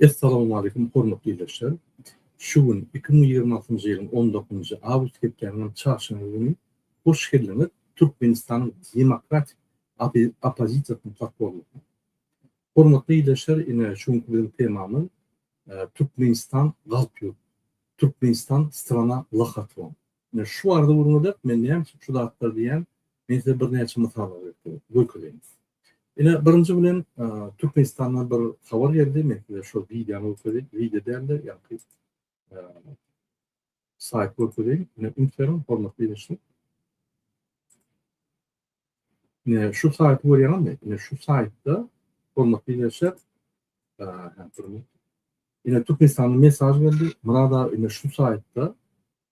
Essalowmalikim hormatly ildeşler! Şu gün iki müň ýigrimi altynjy ýylyň on dokuzynjy awgust hepdäniň çarşenbe güni hoş geldiňiz Türkmenistanyň demokratik oppozisiýasynyň podporniki. Hormatly ildeşler ine şu günki biziň temamyz Türkmenistan galp ýurt, Türkmenistan strana lahotwon. Ine, şu barada gürňürdäp, men näme üçin şu zatlar diýýän, men size birnäçe mysal görkezeýin. Ine, birinji bilen, Türkmenistandan bir habar geldi, men size şol wideony görkezeýin, wideo däl-de, ýa-da saýty görkezeýin. Ine, üns beriň, hormatly diňleýjiler. Ine şu saýty görýäňizmi? Ine şu saýtda hormatly dinleýjiler, ine Türkmenistanyň mesaj geldi. Murad aga ine şu saýtda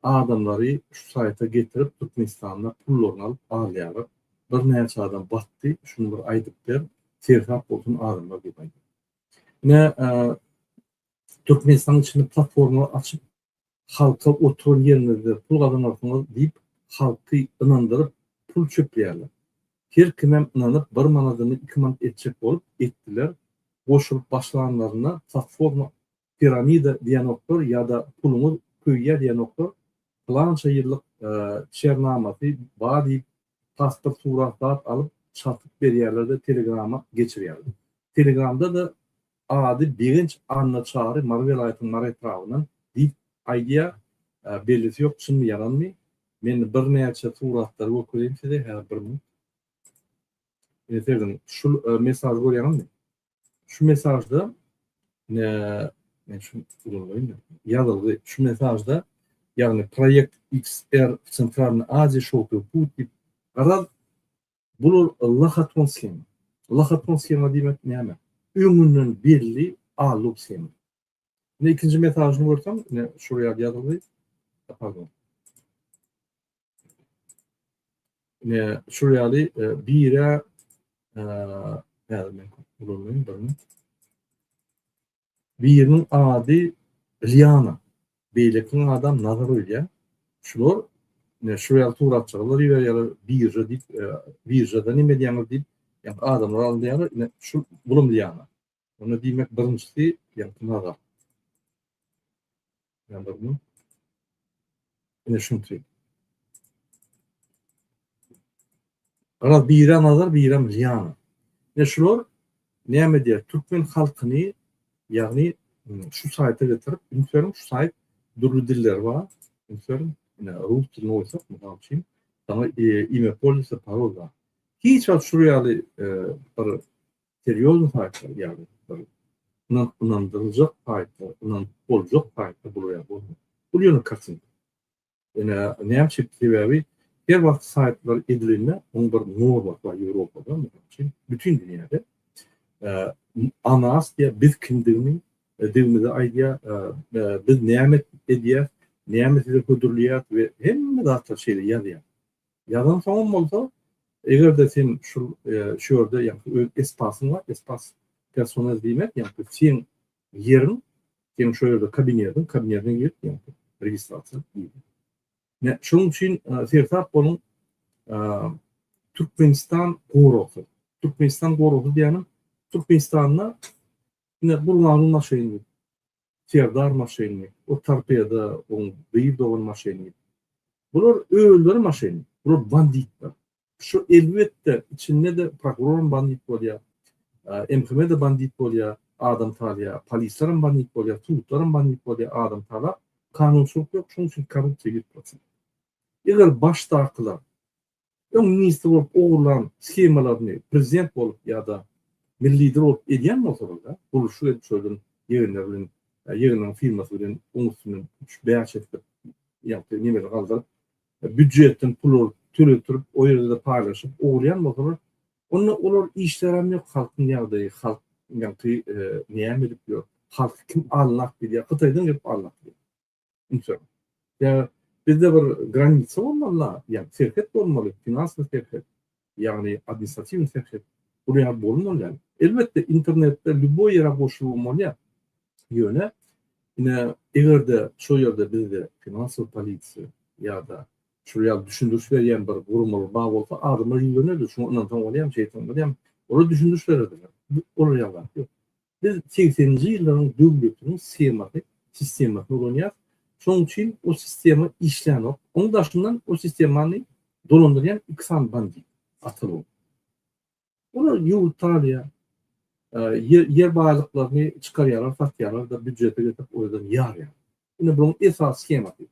adamlary şu saýta getirip Türkmenistanda pullaryny alyp alýarlar. Birnäçe adam batdy, şuny bir aýdyp ber, sersap bolsun adamlar diýip aýdýar. Ine Türkmenistanyň içinde platforma açyp halka oturan ýeriňizde pul gazanarsyňyz diýip halky ynandyryp pul çöpleýärler. Her kimem ynanyp bir manadyny iki manat etjek bolup etdiler, goşulyp başlanlarynda platforma piramida diýenoklar ýa-da puluňyz köýýä diýenoklar, pylança ýyllyk çernamasy bar diýip tasdyr suratdat alyp çatyp berýärlerde telegrama geçirýärler. Telegramda-da ady Begenç Anna Çary Mary welaýatynyň Mary etrabyndan diýip aýdýa bellisi ýok çynmy ýalanmy men birnäçe suratlary gökereýin size häzir bir minut. Ine sebgini şul mesažy görýäňizmi? şu mesajda men şu ýazylgy şu mesajda ýagny proýekt XR Centralny Aziýa şowky put diýip garaz bular lahaton shem. Lahaton shema diýmek näme? Öňünden belli alug shema. Ine ikinji mesajyny görsem, ine şuraya ýazylgy. Pardon. Ne şu ýaly e, bire e, häzir men ulanmaýyn birini. Biriniň ady Liana. Beýlekiniň adam Nazar öýdýär. Şular ne şu ýaly suratçylar ýerleri birje diýip, e, birjede nime diýýäňiz diýip, ýa adamlar alýar, ne şu bulum Liana. Onda diýmek birinjisi ýakyn aga. Ýandyrmy? Ine şunty. Garaz biri nazar, biri Liana. Ne şular näme diýer? Türkmen halkyny ýagny şu saýta getirip, ünsüň şu saýt dürli diller bar. Ünsüň ine rus dilini goýsak, mysal üçin, sana e, ime polisa parol bar. Hiç wagt şu ýaly e, bir serýoznyý taýpa, ýagny bir ynan ynandyryljak taýpa, ynanyp boljak taýpa bulaýar bolmaly. Bul ýöne kartinka. Ine, näme üçin? Sebäbi her wagt saýtlar edilende, onuň bir normasy bar Ýewropada, mysal üçin, bütin dünýäde. O nas diýýär, biz kimdigimi, digimizi aýdýar, biz näme edýäs, näme size hödürleýäs we hemme zatlar şeýle ýazýar. Ýazan soňam bolsa, eger-de sen şul şu ýerde ýagny öz espasyň bar, espas personel diýmek, ýagny seň ýeriň, seň şu ýerde kabinetiň, kabinetiňe girip, ýagny registrasiýa diýilýär. Ne, şonuň üçin seresap boluň, Türkmenistan goragsy. Türkmenistan goragsy diýýänim, Türkmenistanda ine bu maşyn. Serdar maşyny, o torpedo oň gyz dogan maşyny. Bular özleri maşyn. Bular banditler. Şu elbetde içinde-de prokuroram bandit bolýar. MHM-de bandit bolýar, adam talýar. Polislerem bandit bolýar, sudlarem bandit bolýar, adam talap. Kanunçylyk ýok, şonuň üçin korrupsiýa ýüz proçent. Eger başdakylar Öň ministr bolup ogurlan shemalaryny prezident bolup ýa-da milli lider bolup edýän bolsalar-da, gurluşyk edip şoýlan ýegenleri bilen, ýegenleriň firmasy bilen oň üstünden üç, bäş etdirip, ýagty nemeleri galdyryp, býudjetden pul alyp, töletdirip, o ýerde-de paýlaşyp ogurlaýan bolsalar, onda olar işlärem ýok, halkyň ýagdaýy, halk ýagty näme edip ýör, halky kim aldap bilýär, Hytaýdan gelip aldap bilýär. Üçem. Ýa bizde bir granisa bolmaly, ýa serhet bolmaly, finansy serhet, ýagny administratiwny serhet. Bular ýa bolmaly ýaly. Elbetde internetde lýuboý ýere goşulgy bolýar. Ýöne ine eger-de şo ýerde bizde finansow polisiýa ýa-da şular ýaly düşündiriş berýän bir guramalar bar bolsa adamlar ýüzlenirdi. Şoňa ynansaň bolýarmy, şeýtseň bolýarmy? Olar düşündiriş bererdiler. Olar ýaly zat ýok. Biz segseninji ýyllaryň döwletiniň semahy, sistemasyny ulanýas, şonuň üçin o sistema işlänok, oň daşyndan o sistemany dolandyrýan iki sany bandit, ata bolup. Olar ýurt salýar, ýer ýer baýlyklaryny çykarýarlar, satýarlar-da býujete getirip o ýerden ýarýarlar. Ine bunuň esasy skemasy.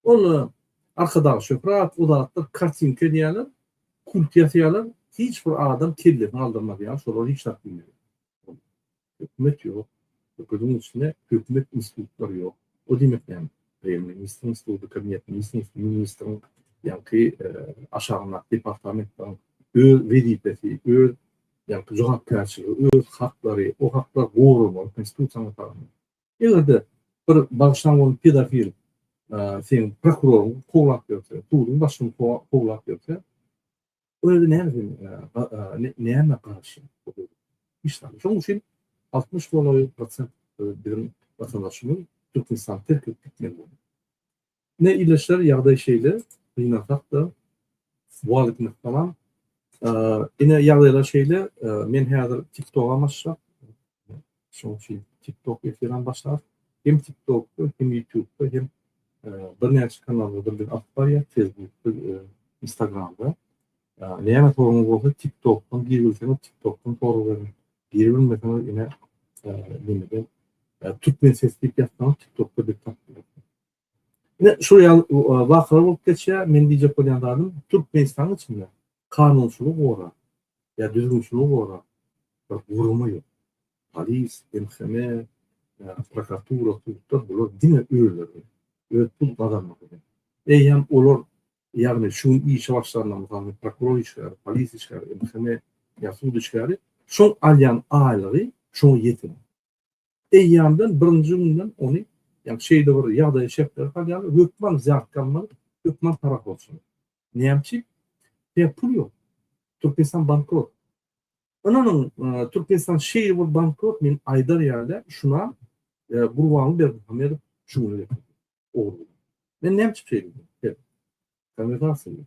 Onda Arkadag Şöhrat, Uzatdyr, kartinka edýärler, kult ýasaýarlar, hiç bir adam kellesini galdyrmaz ýaly şolar hiç zat bilmeýär. Hökümet ýok, höküdiň içinde hökümet institutlary ýok. O diýmek näme? Premýer-ministriň instituty, kabinetministriň instituty, ministriň ýaňky aşagyndaky departamentleriň öz wezipesi, öz ýaňky jogapkärçiligi, öz haklary, o haklar goralmaly konstitusiýa tarapyndan. Eger-de bir bagşyň bolup pedofil seniň prokuroryň kowlap ýörse, suduň başyny kowlap ýörse, ol özi näme üçin, näme garşy? Hiç zat. Şonuň üçin 60 golaý prosent biziň watandaşymyz Türkmenistany terk edip gitmeli boldy. Ine ildeşler ýagdaý şeýle gynansakda swal etmek tamam. Ine ýagdaýlar şeýle men häzir TikTok-a başlap şoň üçin TikTok efiram başlap hem TikTok-da hem YouTube-da hem birnäçe kanallarda biz alyp barýar Facebook-da Instagram-da. Näme soruňyz bolsa TikTok-dan girbilseňiz TikTok-dan sorag beriň. Girbilmeseňiz ine nimeden türkmen ses diýip ýazsaňyz TikTok-da bizi tapyp bilersiňiz. Şu ýaly wakalar bolup geçýär. Men diýjek bolýan zadym, Türkmenistanyň içinde kanunçylygy goran ýa düzgünçiligi goran bir gurama ýok. Polis, MHM, prokuratura, sudlar bular diňe özleri, öz pul gazanmak üçin. Eýýäm olar, ýagny şu gün işe başlanda, mysal, prokuror işgäri, polis işgäri, MHM ýa sud işgäri şoň alýan aýlygy şoňa ýetenok. eýýamdan birinji günden ony, ýagny şeýle bir ýagdaýa şertlere salýarlar, hökman zýartga almaly, hökman para borçly. Näme üçin? Sebäbi pul ýok. Türkmenistan bankrot. Ynanyň, Türkmenistan şeýle bir bankrot, men aýdar ýaly, şuna Gurbany Berdimuhamedow şu güne getirdi. Ogry. Men näme üçin şeýle diýdim? Konwertasiýa.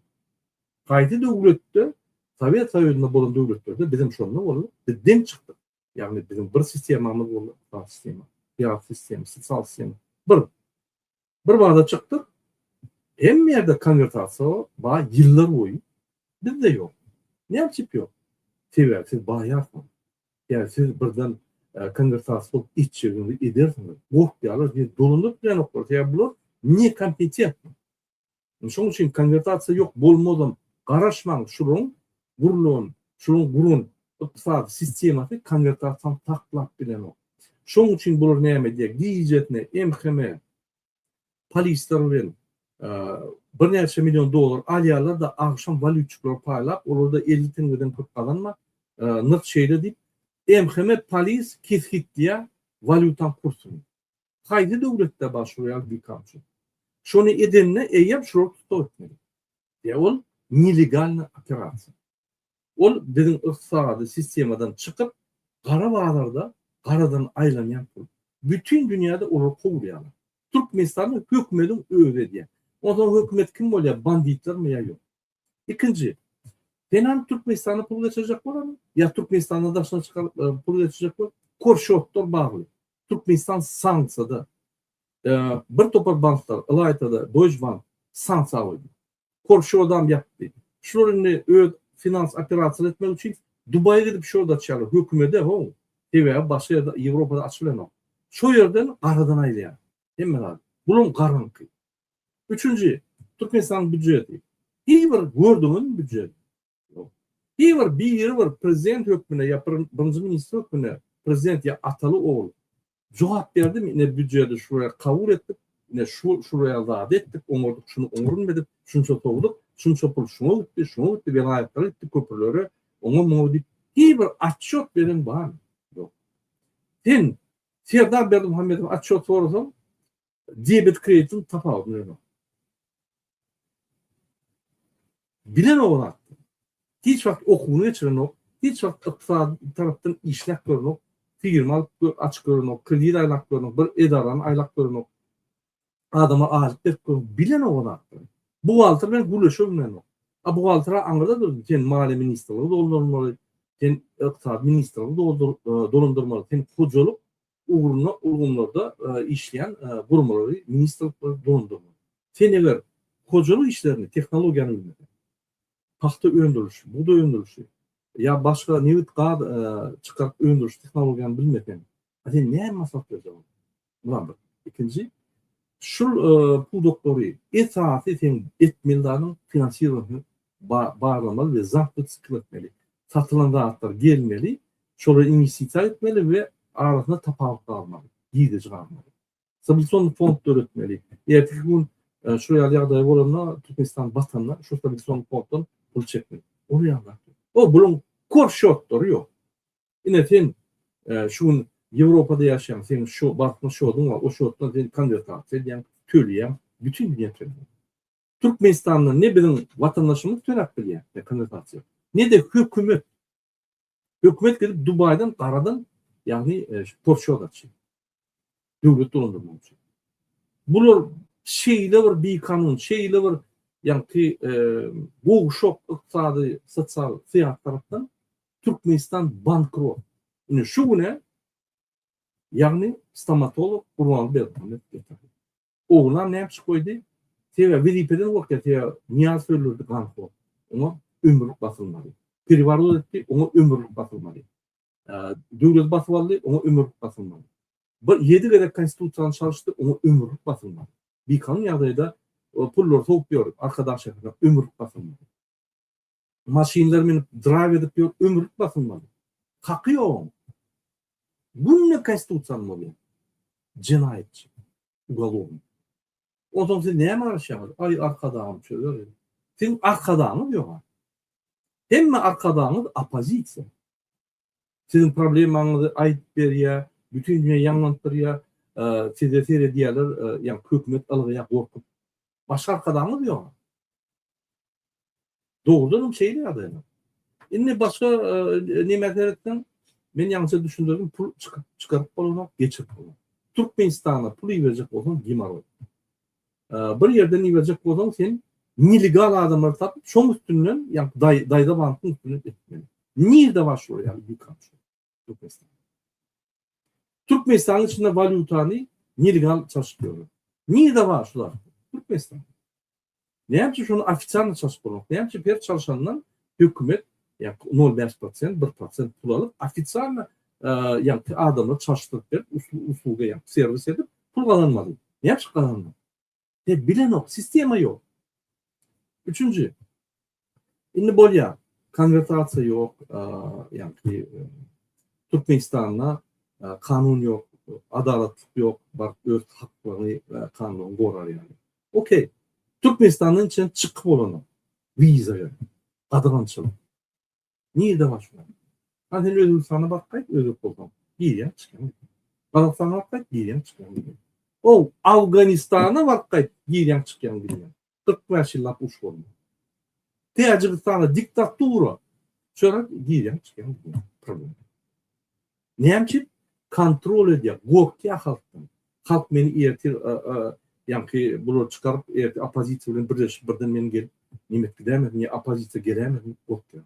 Gaýdy döwletde, Sowet Soýuzynda bolan döwletlerde bizem şonda boldy, biz deň çykdyk. Ýagny biziň bir sistemamyz boldy, sosial sistema, syýasy sistema, sosial sistema. Bir bir bada çykdyk. Hemme ýerde konwertasiýa ba ýyllar boýy bizde ýok. Näme üçin ýok? Sebäbi siz baýarsyňyz. Ýa siz birden e, konwertasiýa bolup içigiňizi edersiňiz. Gorkýarlar, diýip, dolanyp bilenoklar. Sebäbi bular nekompetentni. Şoň üçin konwertasiýa ýok bolmazam garaşmaň şulaň gurlan şulaň guran ykdysady sistemasy konwertasiýany saklap bilenok. Şoň üçin bular näme edýär gijesine MHM polisler bilen birnäçe million dollar alýarlar da agşam walýutçyklara paýlap olar da elli teňňeden köp gazanma nyrh şeýle diýip MHM polis kesgitleýär walýutaň kursyny. Haýsy döwletde bar şu real dikapçy? Şony edende eýýäm şular tussag etmeli. Ýa ol nelegalny operasiýa. Ol biziň ykdysady sistemadan çykyp, gara bazarda garadan aýlanýan pul. Bütin dünýäde olar kowulýarlar. Türkmenistanda hökümediň özi edýär. Onsoň hökümet kim bolýar, banditlermi ýa ýok? Ikinji, Penany Türkmenistana pul geçirjek bolarmy? Ýa Türkmenistanda daşyna çykaryp e, pul geçirjek bol? Kor şortlar bagly. Türkmenistan sanksiýada. E, bir topar banklar, ylaýtada Deutsche Bank sanksiýa goýdy. Kor şodam ýapdy. Şular indi öz finans operasiýalar etmek üçin Dubaýa gidip şod açýarlar. Hökümede ho. Sebäbi başga ýerde Ýewropada açylanok. Şo ýerden garadan aýlaýar. Hemme zat. Buluň garynky. Üçünji, Türkmenistanyň býujeti. Hiç bir gördüňizmi býujet? Ýok. Hiç bir biri bir prezident hökmünde ýa birinji ministr hökmünde prezident ýa ataly ogul jogap berdimi ine býujeti şuraya kabul etdik, ine şu şuraya zat etdik, oňardyk, şuny oňarmadyk, şunça sowduk, şunça pul şuňa gitdi, şuňa gitdi, welaýatlara gitdi, köprülere, oňa muňa diýip hiç bir atçot beren barmy? Ýok. Sen Serdar Berdimuhamedow atçot sorasaň, Debet kreditiň tapawudy näme? Bilen owrat. Hiç wagt okuwyny geçirenok, hiç wagt ykdysady tarapdan işläp görenok, firma alyp açyp görenok, kredit aýlap görenok, bir edarany aýlap görenok. Adama alyp berip görenok. Bilen owrat. Bu wagtlar bilen gürleşe bilmenok. A bu wagtlar aňyrda dur. Sen maliýe ministrligi doldurmaly, sen ykdysady ministrligi doldur, dolandyrmaly, sen hojalyk ugrunda ulgamlarda işleýän guramalary, ministrliklary dolandyrmak. Sen eger hojalyk işlerini tehnologiýany bilmeseň, pagta öndürilişi, bugdaý öndürilişi ýa başga nebit, gaz çykaryp öndüriş tehnologiýany bilmeseň, a sen näme maslahat berjek olara? Mulam bir. Ikinji, Şul pudaklary esasy sen etmeli zadyň finansirowanisini barlamaly we zapyt çykyp etmeli. Satylan zatlar gelmeli, şolara inwestisiýa etmeli we arasynda tapawut galmaly, girdeji galmaly. Stabilizasion fond döretmeli. Erteki gün şu ýaly ýagdaý bolanda, Türkmenistan batanda şu stabilizasion fonddan pul çekmeli. Ol ýagdaý. O buluň kor şortlary ýok. Ine sen şu gün Ýewropada ýaşaýaň, seň şu bankda şoduň bar, o şotdan sen konwertasiýa edýäň, töleýäň, bütin dünýä töleýär. Türkmenistanda ne biziň watandaşymyz töläp bilýär, ne konwertasiýa, ne-de hökümet. Hökümet gidip Dubaýdan garadan, ýagny Porşoda çenli. Döwlet dolandyrmak üçin. Bular şeýle bir bikanun, şeýle bir ýagty gowşak ykdysady, sosial, syýasy tarapdan Türkmenistan bankrot. Indi şu güne ýagny stomatolog Gurbanguly Berdimuhamedow getirdi. Oglan näme üçin goýdy? Sebäbi wezipeden goýupdy, sebäbi Nyýaz Hürlurdy ganhor. Oňa ömürlik basylmady. Periworot etdi, oňa ömürlik basylmady. Döwleti basyp aldy, oňa ömürlik basylmady. Bir ýedi gezek konstitusiýany çalyşdy, oňa ömürlik basylmady. Bikanun ýagdaýda pullary sowup ýör, Arkadag şäherine ömürlik basylmady. Maşynlar münüp draýw edip ýör ömürlik basylmaly. Haky ýok oň. Günde konstitusiýany bozýar. Jenaýatçy. Ugolovny. Onsoň siz näme garaşýaňyz? Aý arkadagym çözer. Siziň arkadagyňyz ýoga. Hemme arkadagyňyz oppozisiýa. Siziň problemaňyzy aýdyp berýä, bütin dünýä ýaňlanyp durýa, size seredýäler, ýa hökümet ylgaýa gorkup. Başga arkadagymyz ýok. Dogrudanam şeýle ýagdaýlar. Indi başga nämä seretseň, men ýaňça düşündirdim, pul çykyp çykaryp bolanok, geçirip bolanok. Türkmenistana pul iberjek bolsaň gimoroý. Bir ýerden iberjek bolsaň sen nelegal adamlary tapyp şoň üstünden ýa daýza bankyň üstünden etmeli. Nirde bar şolar ýaly dükan şu Türkmenistan. Türkmenistanyň içinde walýutany nelegal çalşyp ýörler. Nirde bar şular Türkmenistan. Näme üçin şony ofitsialny çalşyp bolmak? Näme üçin her çalşandan hökümet ýa-da nol bäş prosent, bir prosent pul alyp, ofisialna ýa-da adamlary çalşdyryp berip, usluga ýa-da serwis edip, pul gazanmaly. Näme üçin gazanmaly? Sebäbi bilenok, sistema ýok. Üçünji, indi bolýar, konwertasiýa ýok, ýa-da Türkmenistanda kanun ýok, adalatlyk ýok, baryp öz haklaryny kanun gorar ýaly. Okey, Türkmenistandan çen çykyp bolanok. Wiza ýok. Gadyrgançylyk. Nirde bar şular? Hany sen Özbegistana bakgaý, özbek bolsaň. Girýäň, çykýaň. Gazagystana bakgaý, girýäň, çykýaň. How, Awganistana bakgaý, girýäň, çykýaň diýýän. Kyrk bäş ýyllap uruş bolmaýar. Täjigistana diktatura. Çörek girýäň, çykýaň diýýän. Problem. Näme üçin kontrol edýär, gorkýar halkdan. Halk meni ertir ýaňky bulary çykaryp, ertir oppozisiýa bilen birleşip birden meni gelip näme edip gidämesin ýa oppozisiýa gelämesin diýip gorkýar.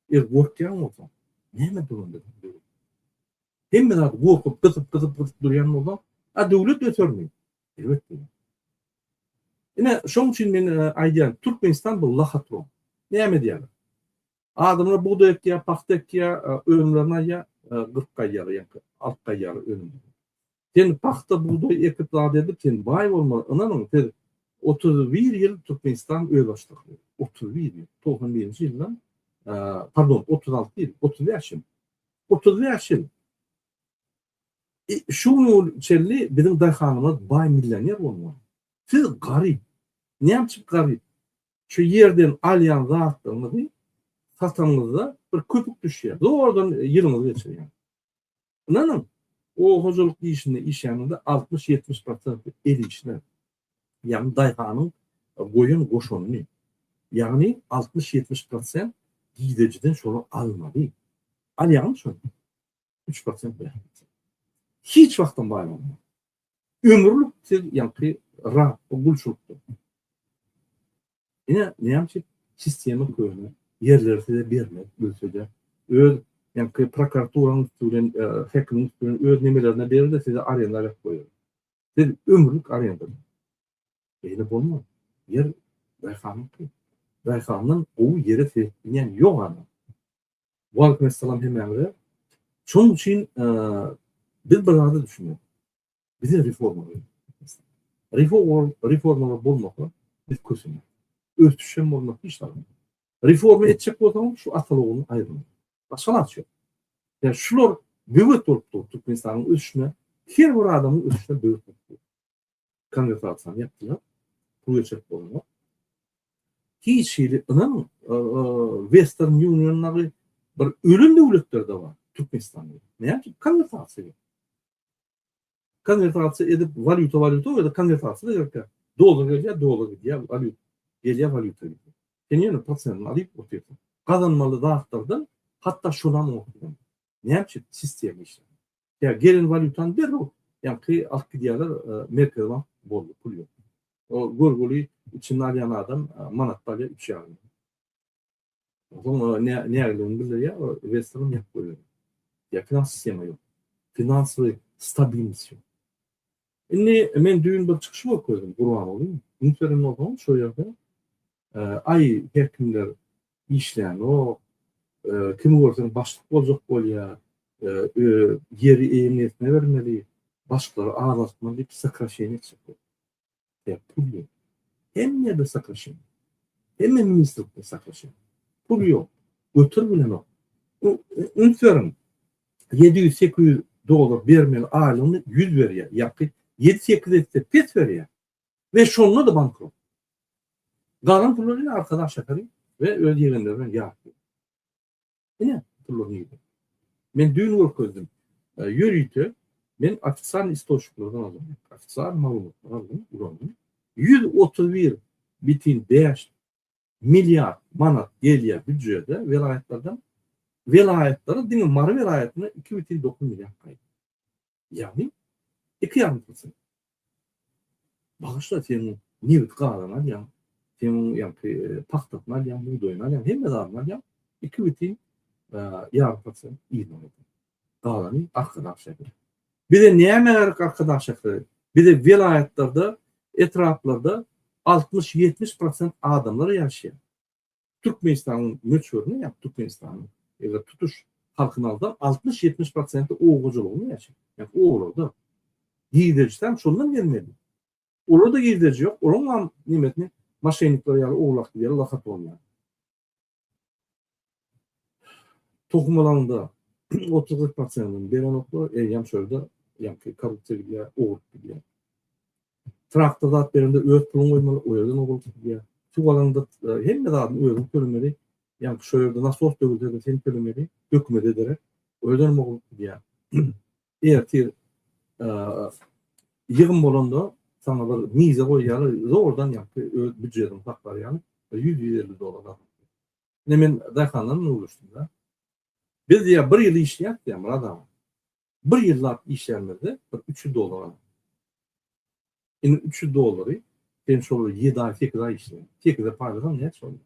Eger gorkýan bolsaň, näme dur onda sen döwlet? Hemme zady gorkup, gysyp, gysyp, gysyp durýan bolsaň, a döwlet ösermi? Elbetde ýok. Ine, şonuň üçin men aýdýan, Türkmenistan bu lahatron. Näme edýärler? Adamlar bugdaý ekýär, pagta ekýär, önümlerini alýar, gyrk gaýýar, ýa-da alty gaýýar önüm. Sen pagta, bugdaý ekip zat edip, sen baý bolmaly. Ynanyň, siz otuz bir ýyl Türkmenistan özbaşdaklygy, otuz bir ýyl, togsan birinji ýyldan, pardon, otuz alty ýyl, otuz bäş ýyl, otuz bäş ýyl şu güne çenli biziň daýhanymyz baý, millioner bolmaly. Siz garyp. Näme üçin garyp? şu ýerden alýan zatlaryňyzy satanyňyzda bir köpük düşýär. Zordan ýylyňyzy geçirýäňiz. Ynanyň, oba hojalyk işinde işlänizde altmyş-ýetmiş prosenti el işine, ýagny daýhanyň goýan goşanyny, ýagny altmyş-ýetmiş prosent gidejiden şony almaly. Alýaňmy şony? üç prosent bähbit. Hiç wagtam baýlanma. Ömürlik siz ýaňky rap gulçulykda. Ine, näme üçin sistema köne ýerleri size bermez, gülsede. Öz ýaňky prokuraturaň üstü bilen, e, häkimiň üstü bilen öz nemelerine berer-de size arenda berip goýar. Siz ömürlik arenda. Beýle bolmaz. Ýer daýhanyňky. Daýhandan gowy ýere seretmeýän ýok adam. Waleýkumessalam hemmäňize. Şonuň üçin biz bir zada düşünýän. Bize reforma gerek. Reforma reforma bolmasa biz kösün. Ösüş hem bolmaz hiç zat. Reforma etjek bolsaň şu atalygyny aýyrma. Başga ilaç ýok. Ya şular böwet bolup dur Türkmenistanyň ösüşine. Her bir adamyň ösüşine böwet bolup dur. konwertasiýany ýapdylar. Pul geçirip bolmaz. Hiç hili ynanyň, Western Union dagy bir ölen döwletlerde bar Türkmenistanda. Näme üçin konwertasiýa? Konwertasiýa edip walýuta walýuta ýa-da konwertasiýa gerek. Dollar gelýär, dollar gidýär, walýuta gelýär, walýuta gidýär. Sen ýene prosentini alyp otyrsyň. Gazanmaly zatlardan hatda şonam oňat. Näme üçin sistema işleýär? Ýa gelen walýutany derrew ýaňky alyp gidýärler, Merkezi bank boldy, pul ýok. O görgüli içini alýan adam manatda alýar üç ýarym many. Soň nägiligini bildirýär, western ýapyp goýberýär. Ýa finans sistema ýok. Finansly stabilnost ýok. Indi men düýn bir çykyş görkezdim Gurbanguly. Ünseren bolsaňyz şo ýerde aý her kimler işlänok, kimi görseň başlyk boljak bolýar, ýeri eýeňersine bermeli, başlary azaltmaly diýip sokraşeniýa etjek bolýar. Sebäp pul ýok. Hemme ýerde sokraşeniýa. Hemme ministrlikde sokraşeniýa. Pul ýok. Göter bilenok. Üns beriň. Ýedi ýüz, sekiz ýüz dollar bermeli aýlygyny ýüz berýär, ýaňky ýedi, sekiz esse pes berýär we şonda-da bankrot. Galan pullary ine arkada Aşakary we öz ýegenleri bilen ýatyr. Ine, pullar nirde? Men düýn görkezdim. Ýörite men ofitsial istoçniklerden aldym. Ofitsial maglumatlary aldym, ulandym. Ýüz otuz bir bitin bäş milliard manat gelýär býujede welaýatlardan, welaýatlara diňe Mary welaýatyna iki ýüz dokuz milliard gaýdyp. Ýagny iki ýarym prosent. Bagyşla sen nebit gazany alýaň, sen ýagny e, pagtasyny alýaň, bugdaýyny alýaň, hemme zadyny alýaň, iki ýüz ýarym prosent ýygnamaly. Dagly Arkadag şäheri. Bize näme gerek Arkadag şäheri? Bize welaýatlarda, etraplarda altmyş-ýetmiş prosent adamlar ýaşaýar. Türkmenistanyň möçberine, ýa Türkmenistanyň eger tutuş halkyny alsaň, altmyş-ýetmiş prosenti oba hojalygynda ýaşaýar. Ýa-ni obalarda. Girdejisi hem şondan gelmeli. Olarda girdeji ýok. Olaryň hem nemesini maşennikler ýaly owlak ýaly lakatonýar. Tohum alanda 30-40 pasyýanyň berenoklar, eýýäm şolda ýaňky korrupsiýa gidýär, ogurlyk gidýär. Traktor zat berende öz puluň goýmaly, o ýerden ogurlyk gidýär. Suw alanda e, hemme zadyň özüň tölemeli. Ýaňky şo ýerde nasos döwülse sen tölemeli, hökümet ederek. O ýerden ogurlyk gidýär. Ertir ýygym bolanda saňa bir mize goýýarlar, zordan ýakdy, öz býujetini saklar ýaly, bir ýüz, ýüz elli dollar aldy. Ine men daýhanlardan ugruşdym-da. Biz diýýär, bir ýyl işleýäs diýýär, Myrat aga. Bir ýyllap işlänimizde bir üç ýüz dollar aldy. Indi üç ýüz dollary sen şol bir ýedi aý, sekiz aý işle. Sekize paýlasaň näçe bolýar?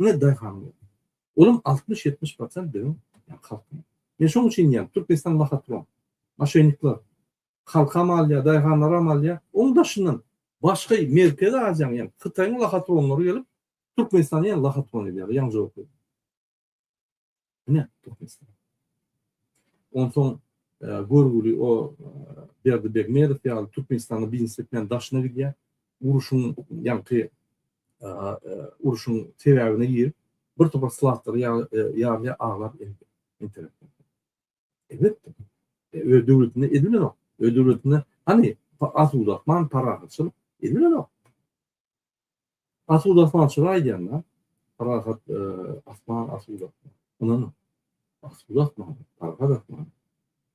Ine daýhan bol. Olam 60-70 prosent biziň halkymyz. Men şoň üçin diýýän, Türkmenistan lahotron, moşennikler halkam alýar, daýhanlaram alýar. Oň daşyndan başga Merkezi Aziýanyň, ýagny Hytaýyň lahotronlary gelip, Türkmenistany ýene lahotron edýärler, ýaňy jogap berdim. Ine, Türkmenistan. Onsoň e, görgüli o e, Berdi Begmedow ýaly Türkmenistanda biznes etmän daşyna gidýär. Uruşyň ýaňky e, uruşyň sebäbine girip, bir topar slatlary ýarly aglap internet. Elbetde. Öz döwletinde edilenok. Öz döwletinde hani asuda, man parahatçylyk edilenok. Asuda asman çyra aýdýanda, parahat asman asuda. Ynanyň, asuda asman, parahat asman.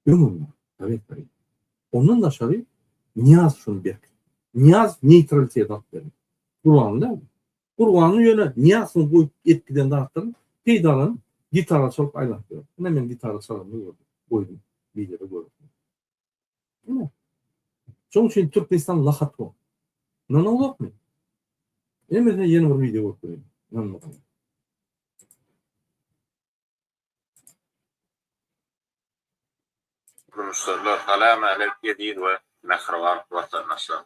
Öňüňde, Sowet Soýuzy. Ondan daşary Nyýaz şuny berk. Nyýaz neýtraliteti alyp berdi. Gurbanguly däl. Gurbanguly ýöne Nyýaz şuny goýup edip giden zatdan peýdalanyp, gitara çalyp aýlanyp ýör. Ine men gitara çalanymy gördüm. Goýdum, wideo görüň. Diňe. Şoň üçin Türkmenistan lahat bol. Ynanyň ýokmy? Emese ýene bir wideo goýup bereýin. Ynanmasaň. Durmuşlar, salam äleýk eziz we mähriban watandaşlar.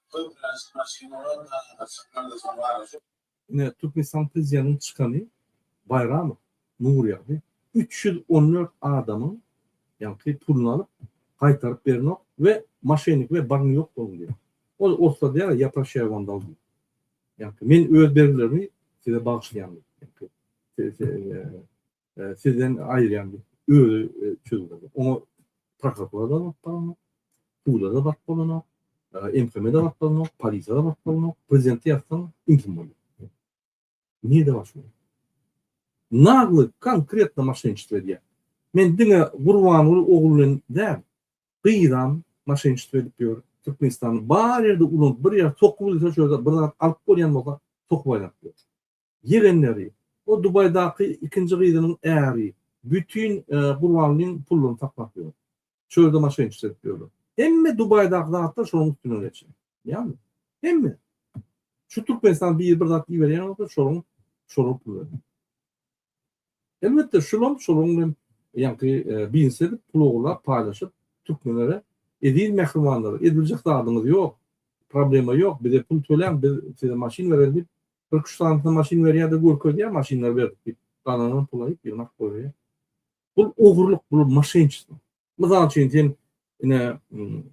Köplenç maşynalar daşyna çykmanda samalaşyp. Ine, Türkmenistan Prezidentiniň çykany Baýramow Nurýagdy üç ýüz on dört adamyň, ýaňky, puluny alyp, gaýtaryp berenok we moşennikler baryň ýok boluň diýýär. Ol orslar diýýär, ja proşaýa wam dal diýip. Ýaňky, men öz bergilerimi size bagyşlaýan diýip, ýaňky, e, sizden aýyrýan özi e, çözülmedi. Oňa prokuratura da bak bolana, suda da bak bolana, e, MHM da bak bolana, polisiýa da bak bolana, prezidenti ýazsaň intim bolýar. Niye de başlıyor? Naglı konkretno maşençilik edýär. Men diňe Gurbanguly ogluny däl, gyzam maşençilik edip ýör. Türkmenistany bar ýerde ulan bir ýer sokup bilse şöyle bir zat alyp bolýan bolsa sokup aýlap ýör. Ýegenleri, o Dubaýdaky ikinji gyzynyň äri bütin Gurbanlyň puluny saklap ýör. Çölde maşynçylyk edip ýörler. Hemme Dubaýdaky zatlar şonuň üstünden geçýär. Ýagny, hemme. Şu Türkmenistana biri bir zat iberýän bolsa, şonuň şolar pul berýär. Elbetde, şulam şolaryň bilen ýaňky biznesi edip, pul ogurlap, paýlaşyp, türkmenlere, Eziz mähribanlar, ediljek zadyňyz ýok, problema ýok, bize pul töläň, biz size maşyn bereris diýip, Kyrk üç sanysyna maşyn berýär-de görkezýär maşynlary berdik diýip. Galanan pula ýygnap goýberýär. Bul ogurlyk, bul maşynçylyk. Mysal üçin sen ine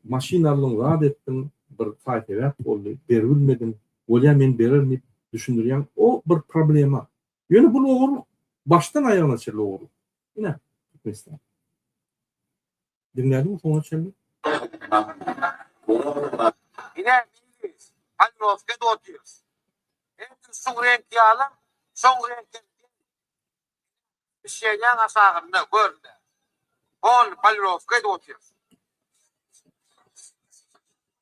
maşyn aldyň, zat etdiň, bir saý-sebäp boldy, beribilmediň, bolýa men bererin diýip düşündirýäň, o bir problema. Ýöne bul ogurlyk, başdan aýagyna çenli ogurlyk. Ine, Türkmenistan. Diňlädiňmi soňuna çenli? Ine, meýlis, palnowkada otyrys. Ertir suw reňki ýaly, soň reňki Şeýdäň aşagynda, gör-le. Hol, palnowkada otyrys.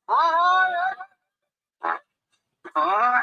Aý-aý-aý! Aý!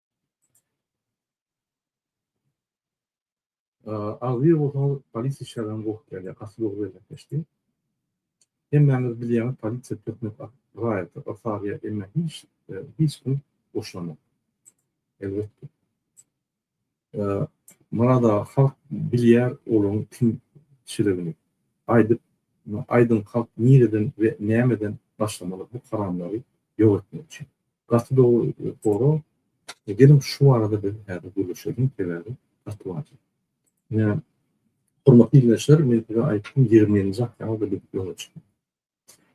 Agzybir bolsaňyz polisiýa işgärlerine gowy gelýär, gaty gowy bereketleşdi. Hemmäňiz bilýäňiz polisiýa türkmen raýaty yrsaryýa emma hiç hiç kim goşulanok. Elbetde. Murada halk bilýär olaň kim şiligini. Aýdyp aýdyň halk nireden we nämeden başlamaly bu haramlary Ýöretmek üçin. Gaty dogry sorag. Geliň şu barada biz häzir gürleşeliň, sebäbi gaty wajyp. Ine, hormatly ildeşler, men size aýtdym, ýigrimi ýedinji oktýabrda biz ýola çykýan.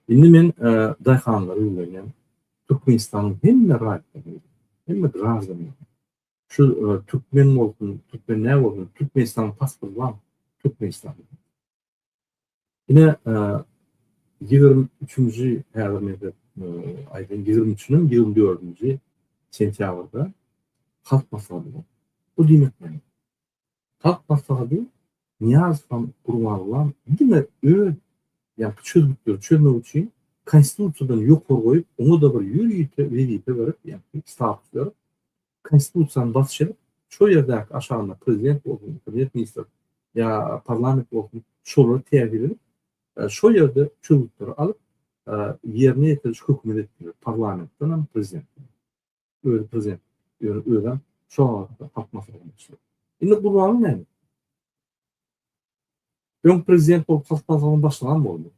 Indi men daýhanlara ýüzlenýän, Türkmenistanyň hemme raýatlaryna, hemme graždanlaryna, şu türkmen bolsun, türkmen näme bolsun, Türkmenistanyň pasporty barmy? Türkmenistanyň. Ine, ýigrimi üçünji, häzir men size aýdaýyn, ýigrimi üçünden ýigrimi dördünji sentýabrda Halk maslahaty boldy. Bu diýmek näme? Halk maslahaty Nyýazow hem Gurbangulam diňe öz ýa-da çözgütleri çözmek üçin Konstitusiýadan ýokary goýup, oňa-da bir ýörite wezipe berip, ýa-da status berip, Konstitusiýany basýar, şo ýerdäki aşagynda prezident bolsun, premýer-ministr ýa parlament bolsun, şolary täzir edip, şo ýerde çözgütleri alyp, ýerine ýetiriş hökümeti edip bilýär, parlamentden hem, prezidentden hem. Özi prezident, ýöne özem şo wagtky halk maslahatyna başlyk. Indi gurbaly näme? Öň prezident bolup, Halk Maslahatynyň başlygam boldy.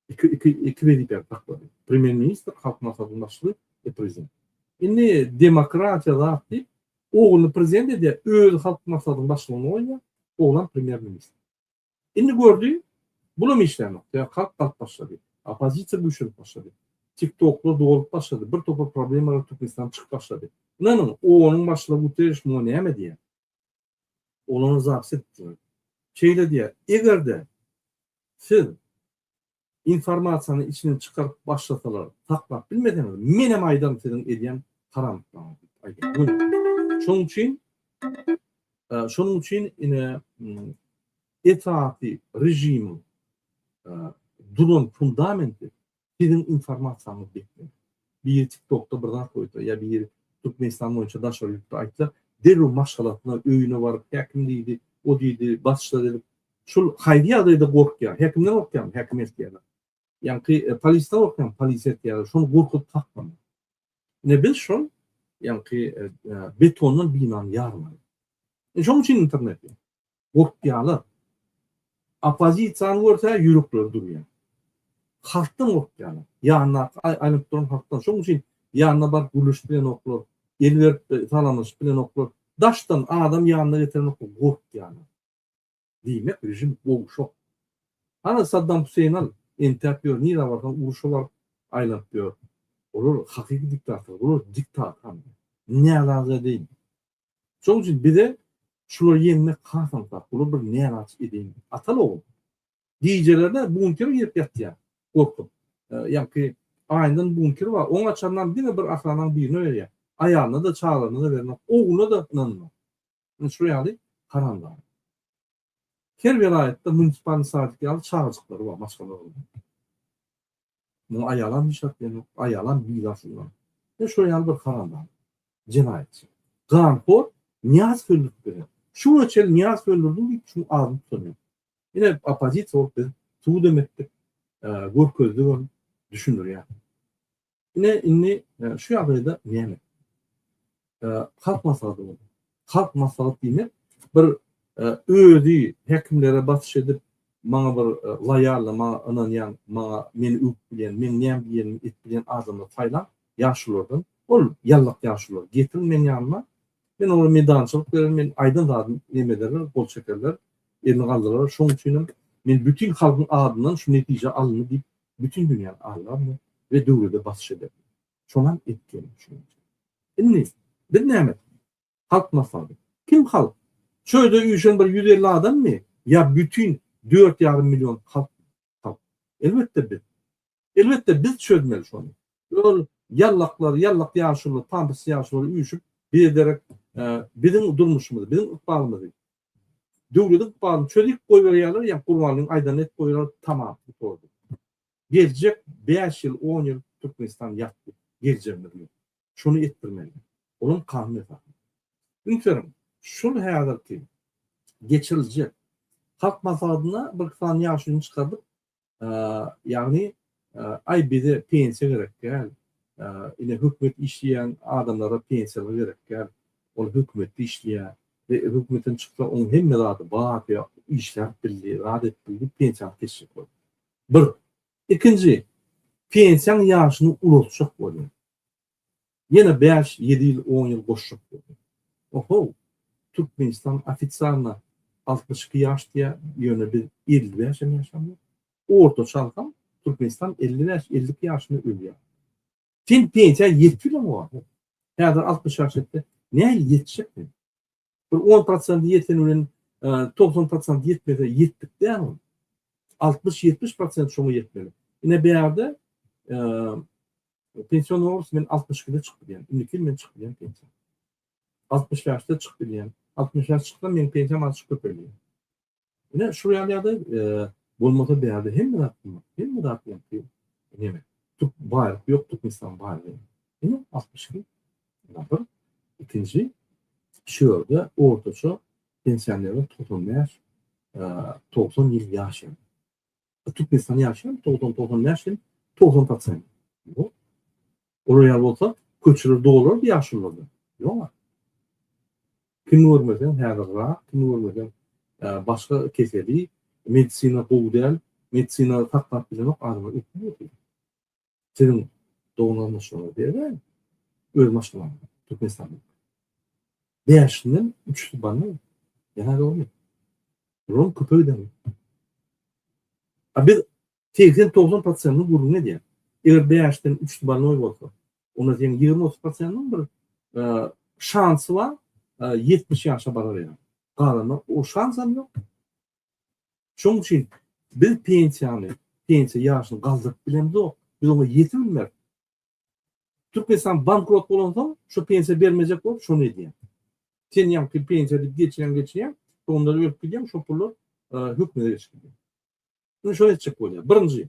Iki, iki, iki wezipäni saklady. Premýer-ministr, Halk Maslahatynyň başlygy we prezident. Indi demokratiýa zat diýip, ogluny prezident edýär, özi Halk Maslahatynyň başlygyny goýýar, oglam premýer-ministr. Indi gördi, bulam işlänok. Sebäbi halk galyp başlady. Oppozisiýa güýçlenip başlady. Tiktoklar dolup başlady. Bir topar problemalar Türkmenistanda çykyp başlady. Ynanyň, OON-yň başlygy Guterriş muňa näme diýer? Olar zaps etdiler. Şeýle diýýär, Eger-de siz informasiýany içinden çykaryp başlasalar saklap bilmeseňiz, menem aýdaryn siziň edýän haramlyklaryňyzy diýip aýdýar. Şonuň üçin şonuň üçin ine esasy režimiň duran fundamenti Siziň informasiýaňyz ýetmez. Biri tiktokda bir zat goýsa ýa biri Türkmenistan boýunça daşary ýurtda aýtsa, derrew maşgalasyna, öýüne baryp, häkim diýdi, o diýdi, basçylar edip, şul haýsy ýagdaýda gorkýar? Häkimden gorkýarmy? Häkim ertýärler. Ýaňky polisden gorkýarmy? Polis ertýärler. Şony gorkuzyp tapmaly. Ine biz şol ýaňky betondan binany ýarmaly. Şonuň üçin internet ýok. Gorkýalar. Oppozisiýany görse ýürekleri durýar. Halkdan gorkýalar. Ýanyndaky aýlanyp duran halkdan. Şonuň üçin ýanyna baryp gürleşip bilenoklar. El berip salamlaşyp bilenoklar. Daşdan adam ýanyna getirenoklar. Gorkýalar. Diýmek režim gowşak. Hany Saddam Huseýn al, entäp ýör, nirä barsaň uruşa baryp aýlanyp ýör. Olar hakyky diktator. Bular diktator. Närazy edin. Şonuň üçin bize şulary ýeňmek has aňsat, bular bir näraçyk edeýin. Atal ogul. Gijelerine bunker girip ýatýar, gorkup. Ýaňky aýyndan bunker bar, oň açarynam diňe bir ahrananyň birine berýär. Aýalyna-da, çagalaryna-da bernok, ogluna-da ynanmaz. Ine şular ýaly haramzada. Her welaýatda munisipalny sadyk ýaly çagajyklary bar, maşgala gurlan. Muňa aýalam hiç zat diýen ýok, aýalam biýz aslynda. Ýa şular ýaly bir haramzada, jenaýatçy, ganhor Nyýazow öldürip berýär. Şu güne çenli Nyýazow öldürdim diýip şuň adyny tutan ýok. Ine oppozisiýa bolup biz subut hem etdik, görkezdigem, düşündirýäs. Ine, indi şu ýagdaýda näme? Halk maslahaty boldy. Halk maslahat diýmek, bir özi häkimlere basyş edip, maňa bir loýalny, maňa ynanýan, maňa meni öwüp bilýän, meň näme diýenimi edip bilýän adamlary saýlaň, ýaşulardan. Ol ýallak ýaşular getiriň meň ýanyma. Men olara meýdançylyk bererin, men aýdan zadymy neme ederler, gol çekerler, elini galdyrarlar. Şonuň üçin hem men bütin halkyň adyndan şu netije alyndy diýip Bütin dünýäni agdarma we döwlete basyş ederme. Şonam etdim, şunuňçe. Indi, biz näme etmeli? Halk maslahaty. Kim halk? Şu öýde üýşen bir ýüz elli adammy ýa bütin dört ýarym million halkmy? Halk. Elbetde biz. Elbetde biz çözmeli şony. Ol ýallaklar, ýallak ýaşulylar, pampers ýaşulylar üýşüp, biderek biziň durmuşymyzy, biziň ykbalymyzy Döwlet ykbalyny çözip goýberýärler ýa Gurbanlyň aýdanyny edip goýberýärler tamam bu torda. Geljek bäş ýyl on ýyl Türkmenistan ýatdy. Geljegimiz ýok. Şony etdirmeli. Olam kanun esasynda. Ünseriň şul häzirki geçiriljek halk maslahatyna bir iki sany ýaşulyny çykardyp Ýagny, aý bize pensiýa gerek däl, ine hökümet işleýän adamlara pensiýalar gerek däl, ol hökümetde işleýär we hökümetden çyksa oň hemme zady bar, işläp bildi, zat edip bildi, pensiýa alyp geçjek bol. Bir. Ikinji, pensiýaň ýaşyny ulaltjak bolýar. Ýene bäş, ýedi ýyl, on ýyl goşjak boldy. Ohow, Türkmenistan ofisialna altmyş iki ýaş diýýär, ýöne biz elli bäş hem ýaşamok. Ortaça alsam, Türkmenistan elli bäş, elli iki ýaşynda ölýär. Sen pensiýa ýetip ýöneň oba. Häzir altmyş ýaş etse, nähili ýetjek sen? Bir on prosent ýeteni bilen togsan prosent ýetmese ýetdik däl. Altmyş, ýetmiş prosent şoňa ýetmeli. Ine beýerde pension borus men altmyş ikide çykyp bilýän. Indiki ýyl men çykyp bilýän pension. Altmyş bäşde çykyp bilýän. Altmyş bäş çyksam, meniň pensiýam azajyk köpelýär. Ine şu ýaly ýagdaý bolmasa bärde hemme zat bolmaz. Hemme zat ýagty. Ine tup bar, ýok tup insan bar. Ine 62. Ýa-da ikinji şu ýerde ortaça pensionerler 95 90 ýyl ýaşaýar. Türkmenistan ýaşaýan togsan togsan bäş ýyl togsan prosent ýok olar ýaly bolsa köçeler dolardy ýaşulylardan ýok kimi görmeseň häzir rak kimi görmeseň başga keseli medisina gowy däl medisina saklap bilenok adamlar öküp ýör Siziň dogum ýazmaşygyňyzy beribem, öz maşgalam, Türkmenistan. Bäşinden üçüsi bandy. Ýa dogry. Rol köpegden. A biz 80-90 prosentini gürrüň edýär. Eger bäşden üçüsi bandy bolsa, onda seň 20-30 prosentiniň bir şansy bar, 70 ýaşa barar ýaly. Galany o şansam ýok. Şonuň üçin biz pensiýany, pensiýa ýaşyny galdyryp bilemzok, biz oňa ýetibilmeris. Türkmenistan bankrot bolansoň, şu pensiýa bermejek bolup şony edýär. Sen ýaňky pensiýa diýip geçirýäň, geçirýäň, doganlar ölüp gidýär, şo pullar hökümete geçip gidýär. Indi şony etjek bolýar. Birinji,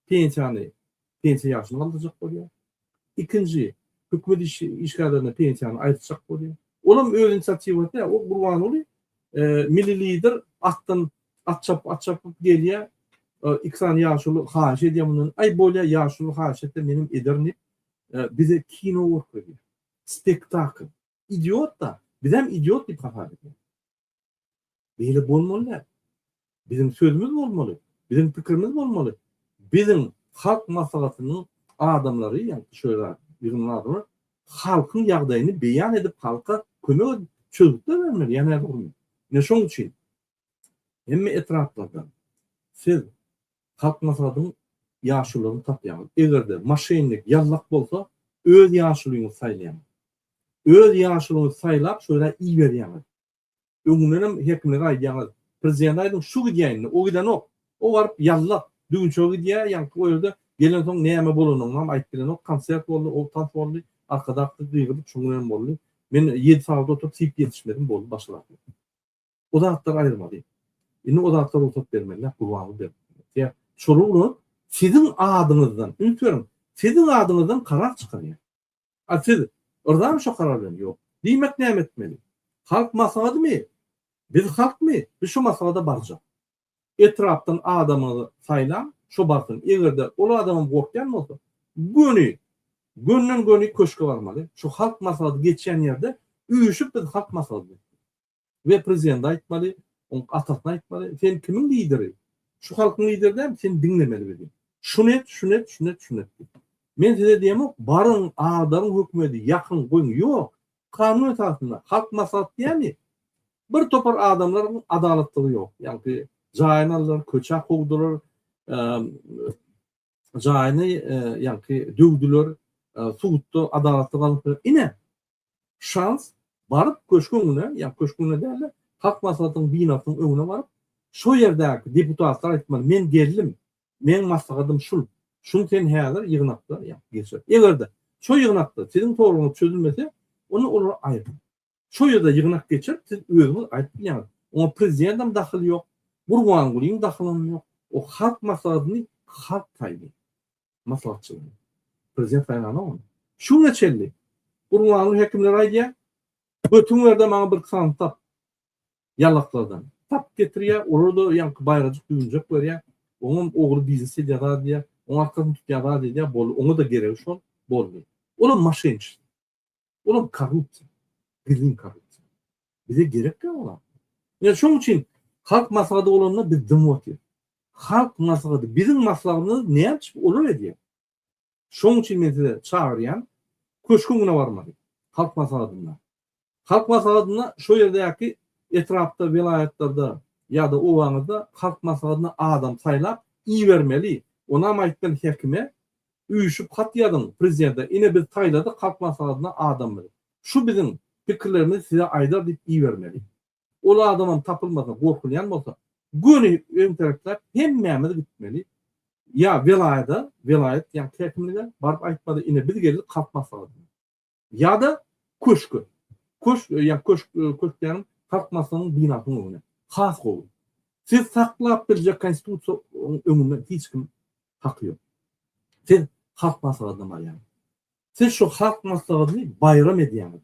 pensiýany pensiýa ýaşyna galdyrjak bolýar. Ikinji, hökümet işgärlerine pensiýany aýyrtjak bolýar. Ol hem öz inisiatiwasy däl, ol Gurbanguly milli lider atdan at çapyp, at çapyp gelýär, iki sany ýaşuly haýyş edýär mundan, aý bolýar ýaşuly haýyş etse menem ederin diýip, bize kino görkezýär, spektakl. idiot-da, bizem idiot diýip hasap edýäris. Beýle bolmaly däl. Biziň sözümiz bolmaly, biziň pikirimiz bolmaly. Biziň Halk Maslahatynyň adamlary, ýagny şu zat, ýygnanan adamlar halkyň ýagdaýyny beýan edip, halka kömek edip, çözgütler bermeli, ýa näme bolmaly? Ine şonuň üçin Hemme etraplardan siz Halkmaslahatyň ýaşulylaryny tapýaňyz. Eger-de moşennik, ýallak bolsa, öz ýaşulyňyzy saýlaýaňyz. Öz ýaşulyňyzy saýlap, şol ýere iberýäňiz. Öňündenem häkimlere aýdýaňyz, prezidente aýdyň, şu gidýär indi, o gidenok. O baryp ýallak, düwünçege gidýär, ýaňky o ýerde gelensoň näme bolanyny-am aýdyp bilenok, konsert boldy, o tans boldy, arkadak gyz gygyryp, şoňa hem boldy. Men ýedi sagat oturyp, syp ýetişmedim, boldy, başaraklyk. O zatlar aýyrmaly. Indi o zatlar rugsat bermelidir, gurbanlyk bermelidir. Ýa şolar ulag siziň adyňyzdan, üns beriň, siziň adyňyzdan karar çykarýar. A siz yrzamy şo karar bilen? Ýok. Diýmek näme etmeli? Halk maslahatymy? Biz halkmy? Biz şo maslahata barjak. Etrapdan adamyňyzy saýlaň, şo barsyn. Eger-de ol adamam gorkýan bolsa, göni, gönden-göni köşge barmaly. Şo halk maslahaty geçýän ýerde üýşüp biz halk maslahatyny. we prezidende aýtmaly, oň atasyna aýtmaly, sen kimiň lideri? Şu halkyň lideri dämi, seni diňlemeli biziň. Şuny et, şuny et, şuny et, şuny et diýip. Men size diýemok, baryň, agdaryň hökümeti, ýakyň, goýuň. Ýok. Kanun esasynda, halk maslahaty diýýämi? Bir topar adamlaryň adalatlygy ýok. Ýagty jaýyny aldylar, köçä kowdular, jaýyny ýaňky döwdüler, sudda adalatsyz galdylar. Ine, şans baryp köşgüň öňüne, ýa köşgüň öňüne däl-de, Halk Maslahatynyň binasynyň öňüne baryp, şo ýerdäki deputatlar aýtmaly, men geldim, meň maslahatym şul, şuny sen häzir ýygnakda ýa geçir. Eger-de şo ýygnakda siziň soraglaryňyz çözülmese, onda olary aýryň. Şo ýerde ýygnak geçirip siz özüňiz aýdyp bilýäňiz. Oňa prezidentem dahyly ýok, Gurbangulyň dahylym ýok. O halk maslahatyny halk saýdy. Maslahatçylygy. Prezident saýlanok ony. Şu güne çenli Gurbanguly häkimlere aýdýar, Götüňi ber-de maňa bir kanun tap. Ýalaklardan. Tapyp getirýär, olar-da ýaňky baýrajyk düwünçek berýär. Oňam ogly biznes edýär zat edýär. Oň arkasyny tutýar zat edýär. Boldy. Oňa-da geregi şol. Boldy. Olam maşynçysy. Olar korrupsiýa. Gizlin korrupsiýa. Bize gerek ýok olar. Ine şonuň üçin halk maslahaty bolanda biz dymyp otyrys. Halk maslahaty biziň maslahatymyzy näme üçin olar edýär? Şonuň üçin men size çagyrýan köşke öňüne barmaly. Halk maslahatynda. Halk maslahatynda şo ýerdäki etrapda, welaýatlarda ýa-da obaňyzda halk maslahatyna adam saýlap ibermeli. Onam aýtmaly häkime Üýşüp hat ýazyň prezidente ine biz saýladyk halk maslahatyna adam biziň. Şu biziň pikirlerimizi size aýdar diýip ibermeli. Ol adamam tapylmasa gorkulýan bolsa göni öň terekläp hemmämiz gitmeli ýa welaýada welaýat ýa käkimlige baryp aýtmaly ine biz geldik halk maslahatyna. Ýa-da köşke. Köşk, ýa köşk, köşk diýýänim, Halk Maslahatynyň binasynyň öňüne. Has gowy. Siz saklap biljek Konstitusiýanyň öňünde hiç kim haky ýok. Siz Halk Maslahatyna barýaňyz. Siz şu Halk Maslahatyny baýram edýäňiz.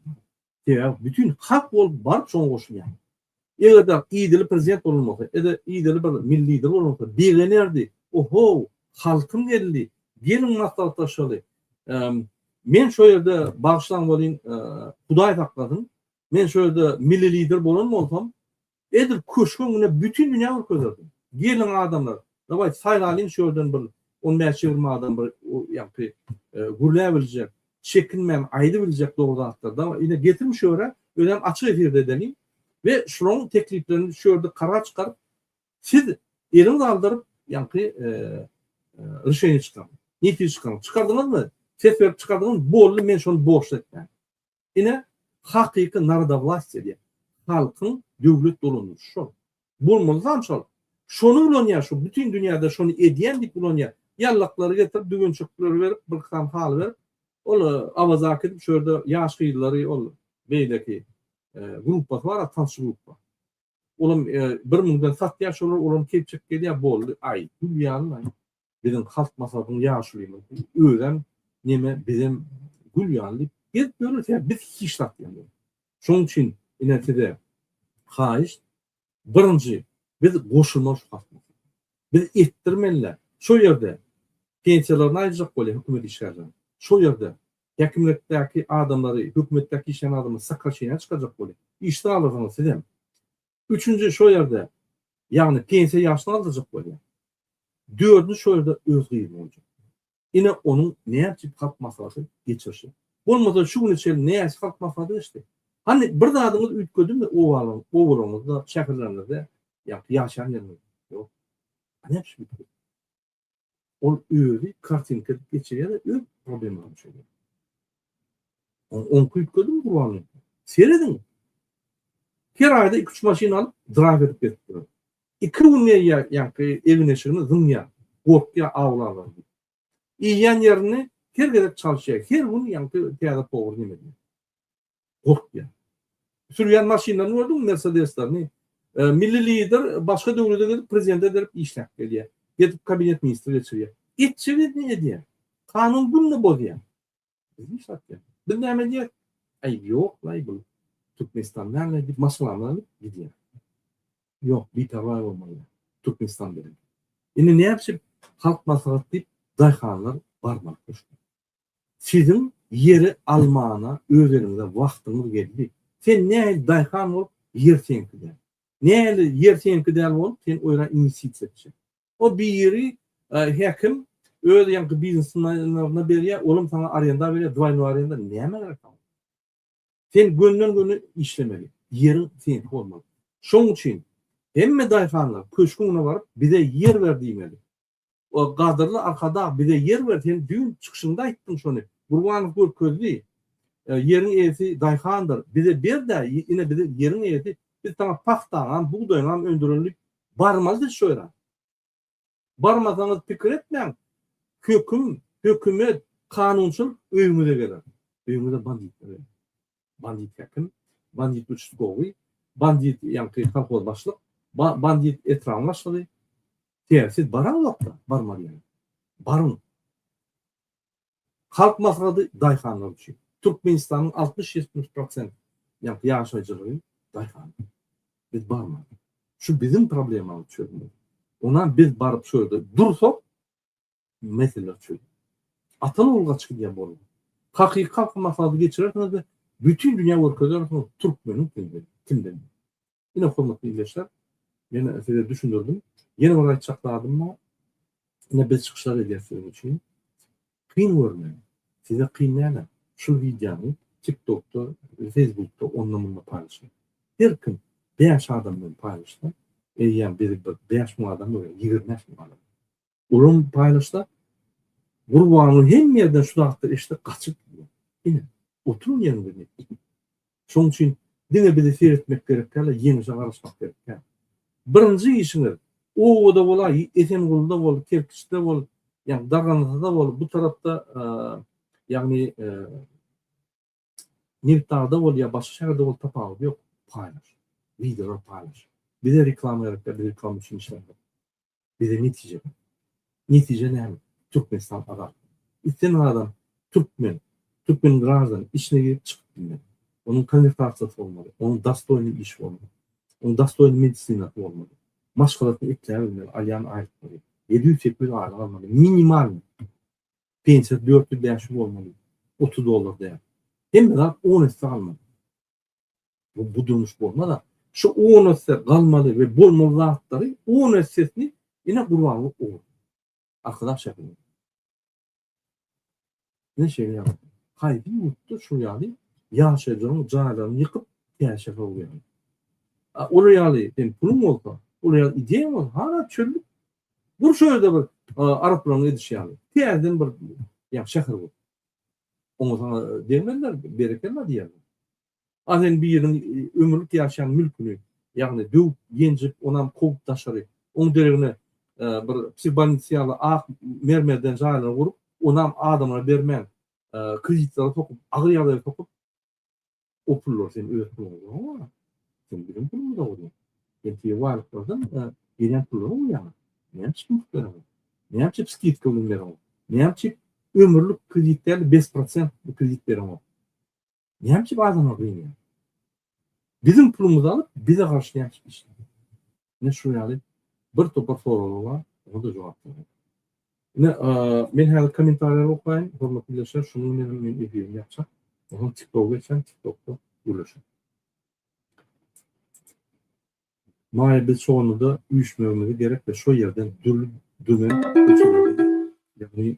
Sebäbi bütin halk bolup baryp şoňa goşulýaňyz. Eger dagy idili prezident bolan bolsa, ede idili bir milli lider bolan bolsa, begenerdi, Ohow, halkyň geldi, geliň maslahatlaşaly. Men şo ýerde, bagyşlaň welin, Hudaý saklasyn, men şo ýerde milli lider bolan bolsam, edil köşge öňüne bütin dünýä görkezerdim. Geliň adamlar, Daway saýlalyň şu ýerden bir on bäş ýigrimi adam bir ýagty gürläbiljek, çekinmän aýdybiljek dogry zatlar daway ine getiriň şu ýere özem açyk efirde edeliň we şularyň tekliplerini şu ýerde karar çykaryp siz eliňizi aldyryp ýagty ryşeýni çykaryň netije çykaryň çykardyňyzmy ses berip çykardyňyz boldy men şony borçly etmän. Ine, hakyky narodowlastiýa diýen, halkyň döwlet dolandyryşy şol. Bolmalysam şol. Şony ulanýar, şu bütin dünýäde şony edýän diýip ulanýar. Ýallaklary getirip, düwünçekleri berip, bir kysam haly berip, ol Awazak edip, şu ýerde ýaş gyzlary, ol beýleki gruppasy bar, tançy gruppa. Olam bir müňden satýa şolar olam kepjek gelýä boldy aý gül ýaly aý biziň halk maslahatyň ýaşulymyzy özem neme bizem gül ýaly diýip gezip ýörüs ýa biz hiç zat diýen şoň üçin ine size haýyşt birinji biz goşulmaly şu halk biz etdirmelilä şo ýerde pensiýalaryny aýyrjak bolýa hökümet işgärleriniň şo ýerde Häkimlikdäki adamlary, hökümetdäki işleýän adamlary sakgal çeýnäp çykarjak bolýar. Işsiz galarsyňyz sizem. Üçünji şo ýerde, ýagny pensiýa ýaşyna galdyrjak bolýar. Dördünji şo ýerde öz gyzy boljak. Ine onuň näçe halk maslahaty geçirişi. Bolmasa şu güne çenli näçe halk maslahaty geçdi. Hany bir zadyňyz üýtgedimi obalaryňyzda, şäherleriňizde ýa-da ýaşaýan ýeriňizde? Ýok. A näme üçin? Ol özi kartinka edip geçirýär de öz problemany çözýär. Ony oňki üýtgedim gurban edip. Serediň. Her aýda iki-üç maşyn alyp, drag edip gezip ýör. Iki gün ýa ýaňky egin-eşigini zyňýar, gorkýar awlalar diýip. Iýýän ýerini her gezek çalyşýar, her gün ýaňky täze powar näme diýýär. gorkýar. Sürýän maşynlaryny gördüňmi mersedeslerini. Milli lider başga döwlede gezip prezident ederip işläp gelýär. Gezip kabinet ministri geçirýär. Etjegini edýär. Kanun günde bozýar. Bizi satýar. Biz näme edýäs? Aýb ýok laý bul Türkmenistan näme diýip maşgalany alyp gidýär. Ýok biperwaý bolmaly Türkmenistan bilen. Indi nätjek halk maslahat diýip daýhanlar barmak düşdi. Siziň ýeri almana özeniňize wagtyňyz geldi. Sen nähili daýhan bolup, ýer seňki däl. Nähili ýer seňki däl bolup, sen oýra inwestisiýa etjek. O biri häkim öz ýaňky biznesmenlerine berýär, olam saňa arenda berýär, dwaynoý arenda, näme gerek saňa? Sen gönden-göni işlemeli. Ýeriň seňki bolmaly. Şoň üçin hemme daýhanlar köşgüňe baryp, bize ýer ber diýmeli. Gadyrly Arkadag bize ýer ber sen düýn çykyşyňda aýtdyň şony Gurbanow görkezdi ýeriň eýesi daýhandyr bize berdä ine bize ýeriň eýesi biz saňa pagtaňam bugdaýyňam öndürenlik barmaly biz şu ýere barmasaňyz pikir etmäň höküm hökümet kanunçylyk öýüňize geler öýüňize banditler geler Bandit häkim, bandit uçstkowy, bandit ýaňky kolhoz başlyk, bandit etrabyň başlygy. Sebäbi siz baran wagtda barmaly ýaly. Baryň. Halk maslahady daýhanlar üçin. Türkmenistanyň altmyş ýetmiş prosent ýaňky ýaşaýjylygy daýhan. Biz barmaly. Şu biziň problemamyzy çözmeli. Onam biz baryp şu ýerde dursak, Mesele üçin. Atal ol gaçyp gidýän bolma. Hakyky halky maslahat geçirersiňizde bütin dünýä görkezersiňiz türkmeniň kimdigini, kimden. Ine hormatly ildeşler, men size düşündirdim. Ýene bir aýtjak zadym bar. Ine biz çykyşlar edýäs siziň üçin. Kyn görmäň. Size kyn näme? Şul wideony TikTokda, Facebookda, onda munda paýlaşyň. Her kim bäş adam bilen paýlaşsa, eýýäm bizi bir bäş müň adam görýär, ýigrimi bäş müň adam. Ulam paýlaşsa, Gurbanyň hemme ýerden şu zatlar eşidip gaçyp gidýär. Ine, oturyň ýeriňde ne etjek? Şonuň üçin diňe bizi seretmek gerek däl-de, ýeňşe garaşmak gerek däl. Birinji işiňiz, obada bol-a, Esengulyda bol, Kerkiçde bol, ýagny Dargandasyda bol, bu tarapda, ýagny, Nebitdagda bol ýa başga şäherde bol tapawudy ýok paýlaş. Wideolary paýlaş. Bize reklama gerek däl biz reklama üçin işlemzok. Bize netije gerek. Netije näme? Türkmenistan azat. Islemeýän adam türkmen, türkmen graždany içine girip çykyp bilmez. Onuň konwertasiýasy bolmaly, onuň dostoýny işi bolmaly. Onuň dostoýny medisinasy bolmaly. Maşgalasyny ekläbilmeli, alýan aýlyklary. Ýedi ýüz sekiz ýüz aýlyk almaly. Minimalnyý. Pensiýasy dört ýüz bäş ýüz bolmaly. Otuz dollar däl. Hemme zat on esse galmaly. Bu, bu durmuş bolmaz-a. Şu on esse galmaly we bolmaly zatlary on essesini ine Gurbanguly ogur. Arkadag şäherinde. Ine şeýle ýagdaý. Haýsy ýurtda şol ýaly ýaşaýjylaryň jaýlaryny ýykyp, käşe sowýarlar? A olar ýaly seň puluň bolsa, olar ýaly ideýaň bolsa, hana çöllük, Dur şu ýerde bir araplaryň edişi ýaly. Täzeden bir ýa şäher bol. Oňa sana degmezler, berekella diýerler. A sen biriniň ömürlik ýaşaýan mülküni, ýagny döwüp, ýenjip, onam kowup daşary, oň deregine bir psihologik ýaly ak mermerden jaýlar gurup, onam adamlara bermän, kreditlere sokup, agyr ýagdaýa sokup, O pullar sen öz puluň bolmaly. Sen biziň pulumyz bolmaly. Sen tiýe wagyt bolsaň, gelen pullaryň uýaňa. Näme üçin pul berýäň? Näme üçin skidka bilen berýäň? Näme üçin ömürlik kredit däl, bes prosent kredit berýäň? Näme üçin adamlary gynýaň? Biziň pulumyzy alyp, bize garşy näme üçin işleýäň? Ine şunuň ýaly bir topar soraglar bar, oňa-da jogap bermek. Ine, men häzir kommentariýalary okaýyn, hormatly ildeşler, şonuň bilen hem men efirimi ýapjak. Soň TikToka geçýän, TikTokda gürleşeýin. Maýa biz çoganda üýşmegimizi gerek we şo ýerden dürli dönen köçelerden, ýagny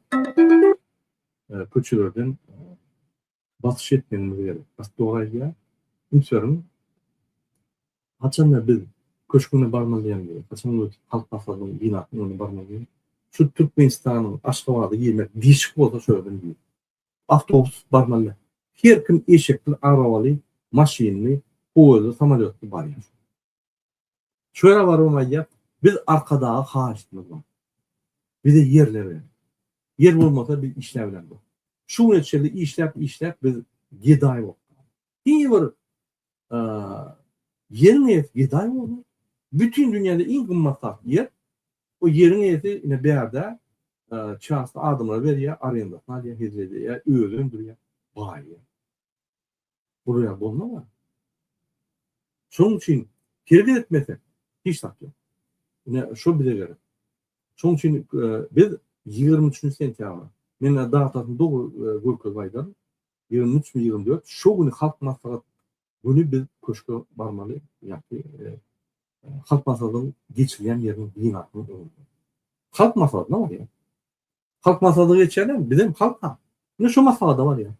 köçelerden basyş etmegimiz gerek. Astoraýa ünseriň. Haçanda biz köşgüne barmaly diýemizok. Haçan biz Halk Maslahatynyň binasynyň öňüne barmaly diýemizok. Şu Türkmenistanyň Aşgabada girmek dişik bolsa şo ýerden gir. Awtobus barmaly. Her kim eşekli, arabaly, maşynly, poýezdli, samolýotly barýar. Çöre baruny aýdýar, Biz Arkadaga haýyştymyz bar. Bize ýerler ber. Ýer bolmasa biz işläp bilemzok. Şu güne çenli işläp-işläp biz gedaý bolup galdyk. Diňe bir ýeriň eýesi gedaý boldy. Bütin dünýäde iň gymmat zat ýer. O ýeriň eýesi ine bärde çasto adamlara berýär, arendasyna alýar, hezil edýär, özi öndürýär, baýaýar. Gurýan bolmaga. Şoň üçin terbiýe etmese hiç zat ýok. Ine şu bize gerek. Şoň üçin e, biz 23 sentýabr men datasyny dogry e, görkezip aýdaryn. 23 mi 24 şu güni halk maslahat güni biz köşke barmaly ýa-da e, halk maslahatynyň geçirilýän ýeriniň binasynyň öňünde. Halk maslahatyna barýar. Halk maslahaty geçýärler, biz hem halk. Ne şu maslahata barýar.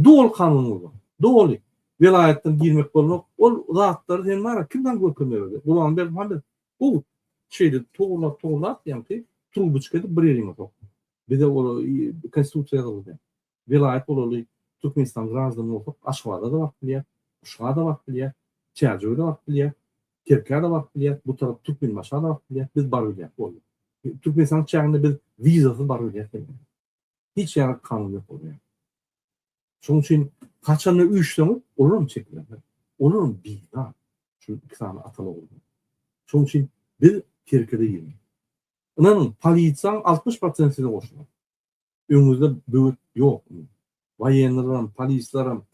Doly kanun bolmaly. Doly. Welaýatdan girmek bolmak. Ol zatlary sen bar ya kim saňa görkezme berdi. Gurban Berdimuhamedow gowy şeýle towurlap towurlap ýaňky trubuçka edip bir ýeriňe sok. Bize ol konstitusiýa ýazyldy. Welaýat bolaly Türkmenistan graždany bolsak Aşgabada-da baryp bilýäs, Uşa-da baryp bilýäs, Çärjewe-de baryp bilýäs, Kerkä-de baryp bilýäs, bu tarap Türkmenbaşa-da baryp bilýäs, biz baryp bilýäs boldy. Türkmenistanyň çäginde biz wizasyz baryp bilýäs. hiç ýaňy kanun ýok bolýar. Şonuň üçin haçanda üýşseňiz, olaram çekilenler. Olaram bizar. Şu iki sany atal oguldan. Şonuň üçin biz tirkede ýöne. Ynanyň, polisiýaň 60 prosenti size goşular. Öňüňizde böwet ýok. Waýennileram, polisleram,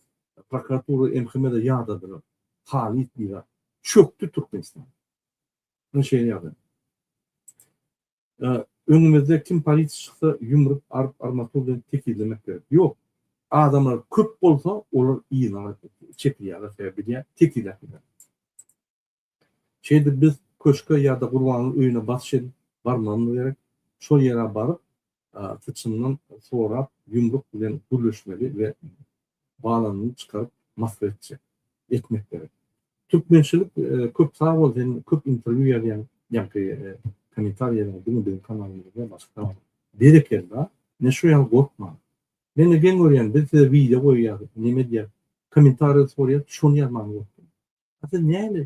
prokuratura, MHM-de ýadadylar. Halyt bizar. Çökdi Türkmenistan. Ine şeýle ýagdaý. Öňümizde kim polisi çyksa ýumrup aryp armatur bilen tekizlemek gerek. Ýok. Adamlar köp bolsa olar yzyna gaýdyp çekilýärler sebäbi bilýär tekizläp bilmez. Şeýdip biz köşke ýa-da Gurbanyň öýüne basyş edip barmagymyz gerek. Şol ýere baryp syçandan sorap ýumruk bilen gürleşmeli we Galanyny çykaryp Moskwa etjek. Etmek gerek. Türkmençilik köp sag bol sen köp interwýu ýazýaň ýaňky komentarýalaryňy diňe biziň kanalymyzda başga kanalda berekella ine şu ýaly gorkmaň mende geň görýän biz size wideo goýýas neme edýäs komentarýa sorýas şony ýazman gorkýan a siz nähili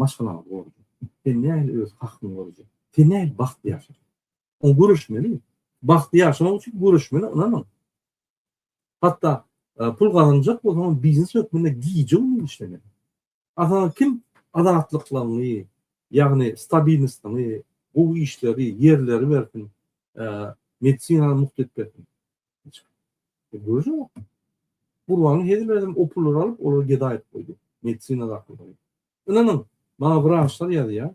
maşgalaňyzy gorajak sen nähili öz hakyňy gorajak sen nähili bagtly ýaşajak Oň göreşmeli. Bagtly ýaşamak üçin göreşmeli, ynanyň. Hatda pul gazanjak bolsaňam biznes hökmünde gije-gündiz işlemeli. Aslynda kim azatlyklygyňy, ýagny stabilnostlygyňy, gowy işleri, ýerleri bersin, medisinany mugt edip bersin. Göreşmek. Gurbanyň hezil berdim, o pullary alyp, olary geda edip goýdy. Medisina zat bolmaly. Ynanyň, maňa wraçlar ýazýar.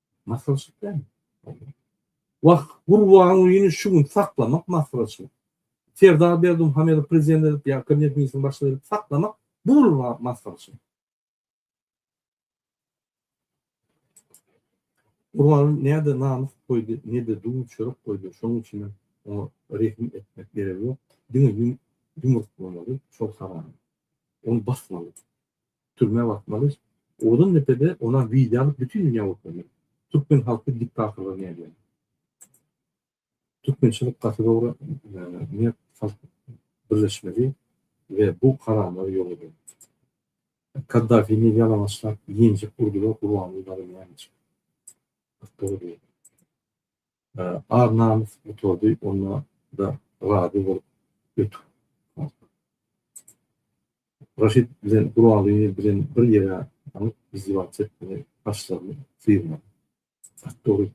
Maslahatçylyk dälmi? Wah, Gurban Ulyny şu gün saklamak maslahatçylyk. Serdar Berdimuhamedowy prezident edip ýa kabinet ministriniň başlygy edip saklamak bu bolur maslahatçylyk. Gurban Uly näde namys goýdy, nede duz çörek goýdy, şonuň üçin hem oňa rehim etmek geregi ýok. Diňe ýumruk bolmaly, şol haramyň. Ony basmaly. Türmä batmaly. Odan depede ona wideo alyp bütün dünya görkezmeli. Türkmen halky diktatorlygy nädýär. Türkmençilik gaty dogry mert halk birleşmeli we bu haramlary ýok edeli. Kaddafini ýalaňaçlap ýenjek urdular Gurbanguly dagy näme üçin. Gaty dogry diýýär. Ar-namys metody onda-da razy bolup ötüp galdy. Raşid bilen Guraly bilen bir ýere galyp izdiwaç etmegi başlaryny sygmady. At dogry,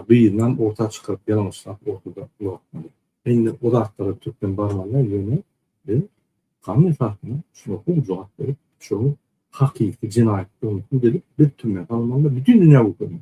gyzynam orta çykaryp ýalňyşlap ortada ulaltmady. Indi o zatlara türkmen barmanda, ýöne biz kanun esasynda şuňa gowy jogap berip, şonuň hakyky jenaýatdygyny subut edip, biz türmä salynmanda bütin dünýä görkezmeli.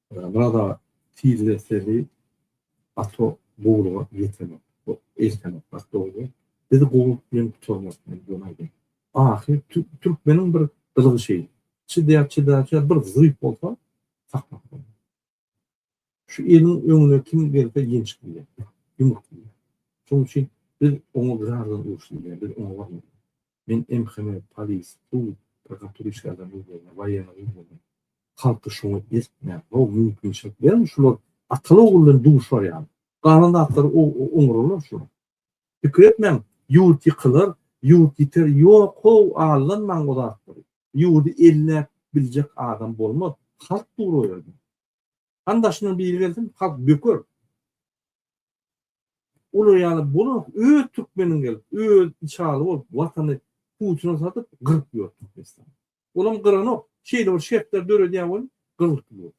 Rada tizleseli ato gowluga ýetenok. Eltenok gaty dogry. Biz gowluk bilen gutarmak bilen döneýdi. Ahyr türkmeniň bir gylygy şeýle. Çydýar çydaýar bir zyýyp bolsa sakmak bolýar. Şu eliň öňüne kim gelse ýenç bilýär. Ýumruk bilýär. Şonuň üçin biz oňa bir aradan uruşly diýýär. Biz oňa barmaly. Men MHM, polis, sud, prokuratura işgärlerine üns berýän, waýenara üns berýän. Halky şoňa eltmän, gowy mümkinçilik beriň, şular ataly-ogul bilen duşar ýaly. Galan zatlary oňararlar şular. Pikir etmäň, ýurt ýykylar, ýurt ýiter, ýok-how, aldanmaň o zatlary. Ýurdy elläp biljek adam bolmaz, halk dur o ýerde. Hany daşyndan biri gelsin, halk böker. Olar ýaly bolar, öz türkmeniň gelip, öz içaly bolup, watany Putina satyp, gyryp ýör Türkmenistany. Olam gyranok, şeýle bir şertler döredýär bolup, gyrylyp ýör.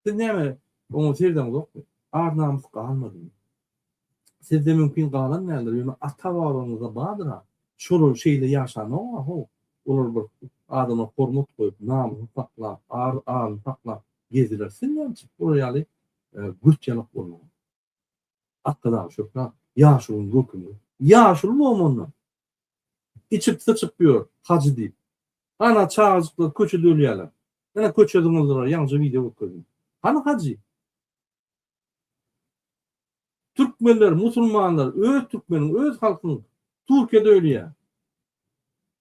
Siz näme, oňa seredeniňzokmy? Ar-namys galmadymy? Sizde mümkin galan däldir, ýöne ata-babalaryňyzda bardyr-a. Şolar şeýle ýaşanok-a, ho. Olar bir adama hormat goýup, namysyny saklap, ar-aryny saklap gezdiler. Siz näme üçin olar ýaly Gürt ýalak bolmaly. Atda dagy şöhle, ýaşulyň görkemi. Ýaşuly bomandan, içip-syçyp ýör, hajy diýip. Ana, çagajyklar köçede ölýärler. Ene, köçe zyňyldylar, ýaňja wideo görkezdim. Hany hajy? Türkmenler, musulmanlar öz türkmeniň, öz halkyň Turkiýada ölýä.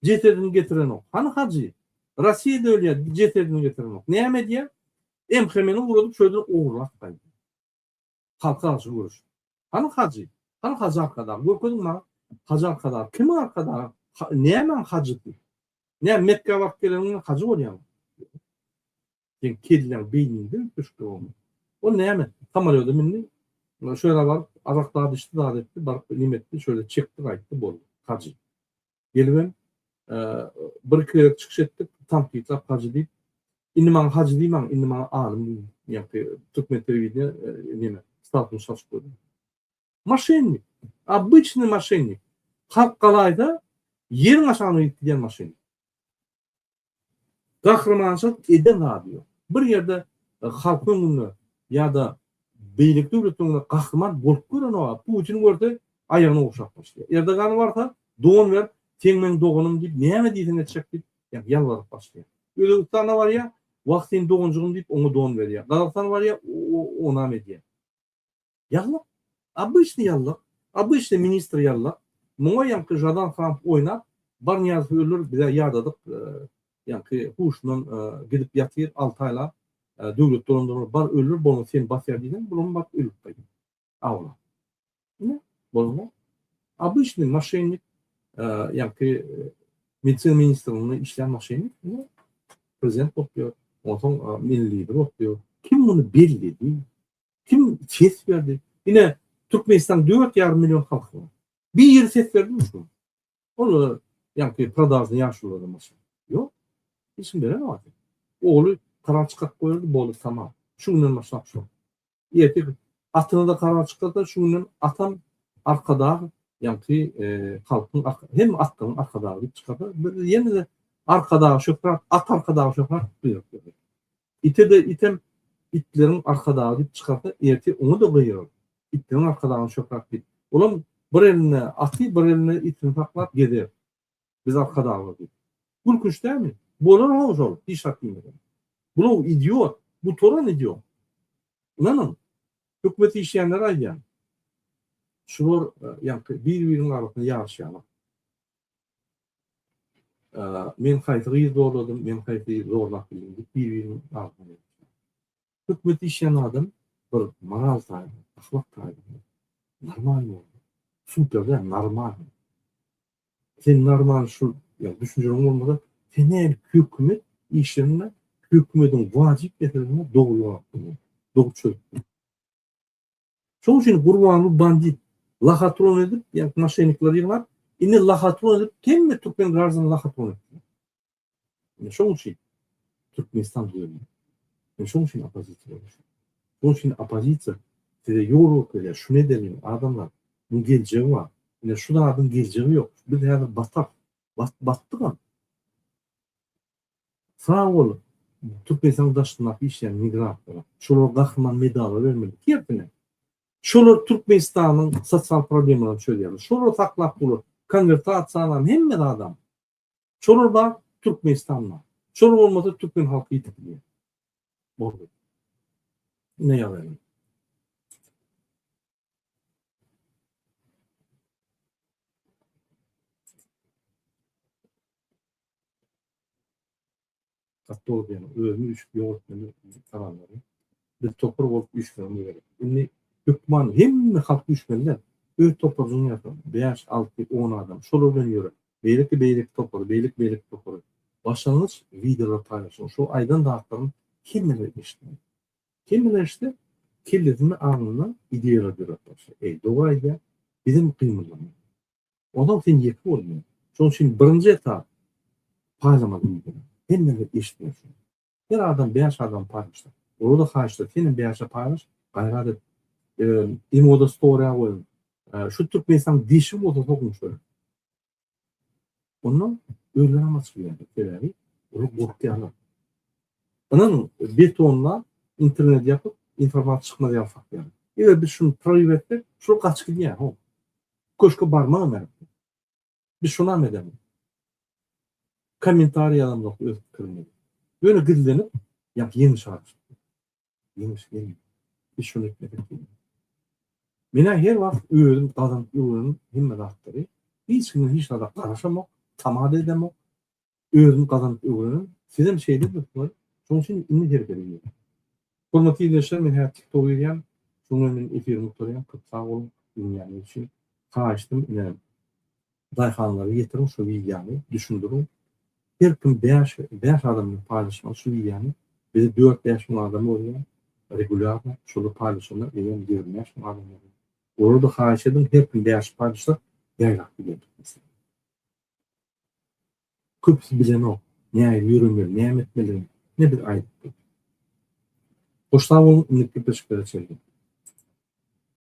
Jesedini getirenok. Hany hajy? Rossiýada ölýä, jesedini getirenok. Näme edýä? MHM-ni ugradyp şo ýerden ogurlap gaýdýa. Halka garşy göreşip. Hany hajy? Hany hajy arkadag? Görkeziň maňa. Hajy arkadag. Kimiň arkadagy? Nämäň hajysy? Näme Mekgä baryp geleniňden hajy bolýaňmy? Seň kelläň, beýniň döwüp düşüpdir onuň. Ol näme, samolýoda mündi, şu ýere baryp, arak zat içdi, zat etdi, baryp neme etdi, şöyle çekdi, gaýtdy, boldy. Hajy. Gelibem, bir-iki gezek çykyş etdik, tankytlap hajy diýip, indi maňa hajy diýmäň, indi maňa alym diýiň, ýa-da türkmen telewideniýe neme, statym çalşyp goýduň. Maşennik, obyçnyý maşennik. Halk galaýsa, ýeriň aşagyna gidip gidýän maşennik. Gahrymançylyk eden zady ýok. Bir ýerde halkyň öňünde ýa-da beýleki döwletiň öňünde gahryman bolup görenok-a, Putini görse aýagyny ogşap başlaýar. Erdogany barsa, don ber, sen meň doganym diýip, näme diýseň etjek diýip, ýa ýalbaryp başlaýar. Özbegistana barýar, wah, sen doganjygym diýip, oňa don berýär. Gazagystana barýar, onam edýär. Ýallak. Obýçny ýallak. Obýçny ministr ýallak. Muňa ýaňky Žadan Hanow oýnap, Barnyýazow öler bizä ýadadyk ýaňky huşundan gidip ýatyr alty aýlap döwlet dolandyrar bar öler bolmasa seni basýar diýseň bulam baryp ölüp gaýdar. Awla. Ine bolma. Obýçny maşennik ýaňky Medisina ministrliginde işleýän maşennik ine prezident bolup ýör. Onsoň milli lider bolup ýör. Kim muny belledi? Kim ses berdi? Ine, Türkmenistan dört ýarym million halky bar. Biri ses berdimi şu gün? Olar ýaňky prodawny ýaşulylara maşyn. Ýok. Hiç kim beren wagty. Ogly karar çykaryp goýardy, boldy, tamam. Şu günden başlap şol. Ertir atyna-da karar çykardy, şu günden atam Arkadag, ýaňky halkyň hem atlaryň Arkadagy diýip çykardy. Ýene-de Arkadaga şöhrat, at Arkadaga şöhrat buýruk berdi. Ite-de item, itleriň arkadagy diýip çykarsa, ertir oňa-da gygyrar. Itleriň arkadagyny şöhrat diýip. Olam bir elinde aty, bir elinde itini saklap gezer. Biz arkadaglar diýip. Gülkünç dälmi? Bolar-how şol, hiç zat diýmeden. Bul-how idiot, gutaran idiot. Ynanyň, hökümet işleýänleri aýdýan. Şular ýaňky bir-biriniň arasynda ýaryşýarlar. Men haýsy gyzy zorladym, men haýsy zorlap bildim diýip bir-biriniň agzyna ýetişýär. Hökümet işleýän adam bir moral taýdan, ahlak taýdan normal bolmaly. Super däl, normal. Sen normal şu ýa düşünjäň bolmasa, sen näme hökümet işinde hökümetiň wajyp meselesini dogry ýok. Dogry çözüp. Şoň üçin Gurbanguly bandit, lahatron edip, ýa-da maşennikleri ýygnap, indi lahatron edip, hemme türkmen graždanyny lahatron etdiler. Indi şoň üçin Türkmenistan düzelýär. Indi şoň üçin oppozisiýa gurulýar. Şoň üçin oppozisiýa size ýol görkezýär, şuny edeliň, adamlar, munuň geljegi bar. Ine şu zadyň geljegi ýok. Biz häzir batak, batdygam. Sag bol Türkmenistan daşyndaky işleýän migrantlara. Şolar gahryman medala bermeli. Tersine. Şolar Türkmenistanyň sosial problemalaryny çözýärler. Şolar saklap durlar. Konwertasiýalarny hemme zadam. Şolar bar, Türkmenistan bar. Şolar bolmasa türkmen halky ýitip gidýär. Boldy. Ine ýazayň. Katodiýany özüni düşüp ýogatmaly kanallary. Biz topar bolup güýçlenmeli gerek. Indi hökman hemme halk güýçlenler öz toparyny ýasap, 5, 6, 10 adam şolar bilen ýöre. Beýleki beýleki topary, beýleki beýleki topary. Başlangyç wideolar paýlaşyň. Şu aýdan zatlaryň hemmeler eşitmeli. Kimiler işte kellesini alnyndan ideýalar döräp başlaýar. Eý, doga eýýäm bizem gymyldamaly. Onsoň sen ýeke bolmaly. Şonuň üçin birinji etap paýlama diýilýär. Hemmeler eşitmeli şony. Her adam bäş adama paýlaşdy. Olara-da haýyşdyr, senem bäşe paýlaş, gaýrat et. Ýa-da imoda story-a goýuň. Şu Türkmenistanyň dişi bolsa sokuň şoýa. Ondan özleri ama çıkýarlar. Sebäbi olar gorkýarlar. Ynanyň, betonda internet ýapyp, informasiýa çykmaz ýaly saklarlar. Eger biz şuny prorýw etsek, şol gaçyp gidýär. Ho. Köşke barmagam gerek. Biz şonam edemok. Kommentariý ýazamok öz pikirimizi. Ýöne gizlenip, ýa ýeňiş arzuw. Ýeňiş gelmedi. Biz şuny etmedik diýdim. Men-ä her wagt özüm gazanyp ýören hemme zatlary, hiç kimiň hiç zada garaşamok, tama-da edemok. Özüm gazanyp öwrenen, sizem şeýle edipsiňiz, şonuň üçin indi hereket edýän. Hormatly ildeşler, men häzir TikTok edýän, şoňa men efirimi gutarýan, köp sag boluň, diňläniniz üçin. Haýyştym, inenim. Daýhanlara ýetiriň şu wideony, düşündiriň. Her kim bäş bäş adam bilen paýlaşmaly şu wideony. Bizi dört bäş müň adam görýär regulýarno, şolar paýlaşanda bizem ýigrimi bäş müň adam görýär. Olarda haýyş ediň her kim bäş paýlaşsak ýaýrap giderdik biz. Köpüsi bilenok nähili ýöremeli näme etmeligini ine biz aýdypdyk. Hoş sag boluň indiki gepleşiklere çenli.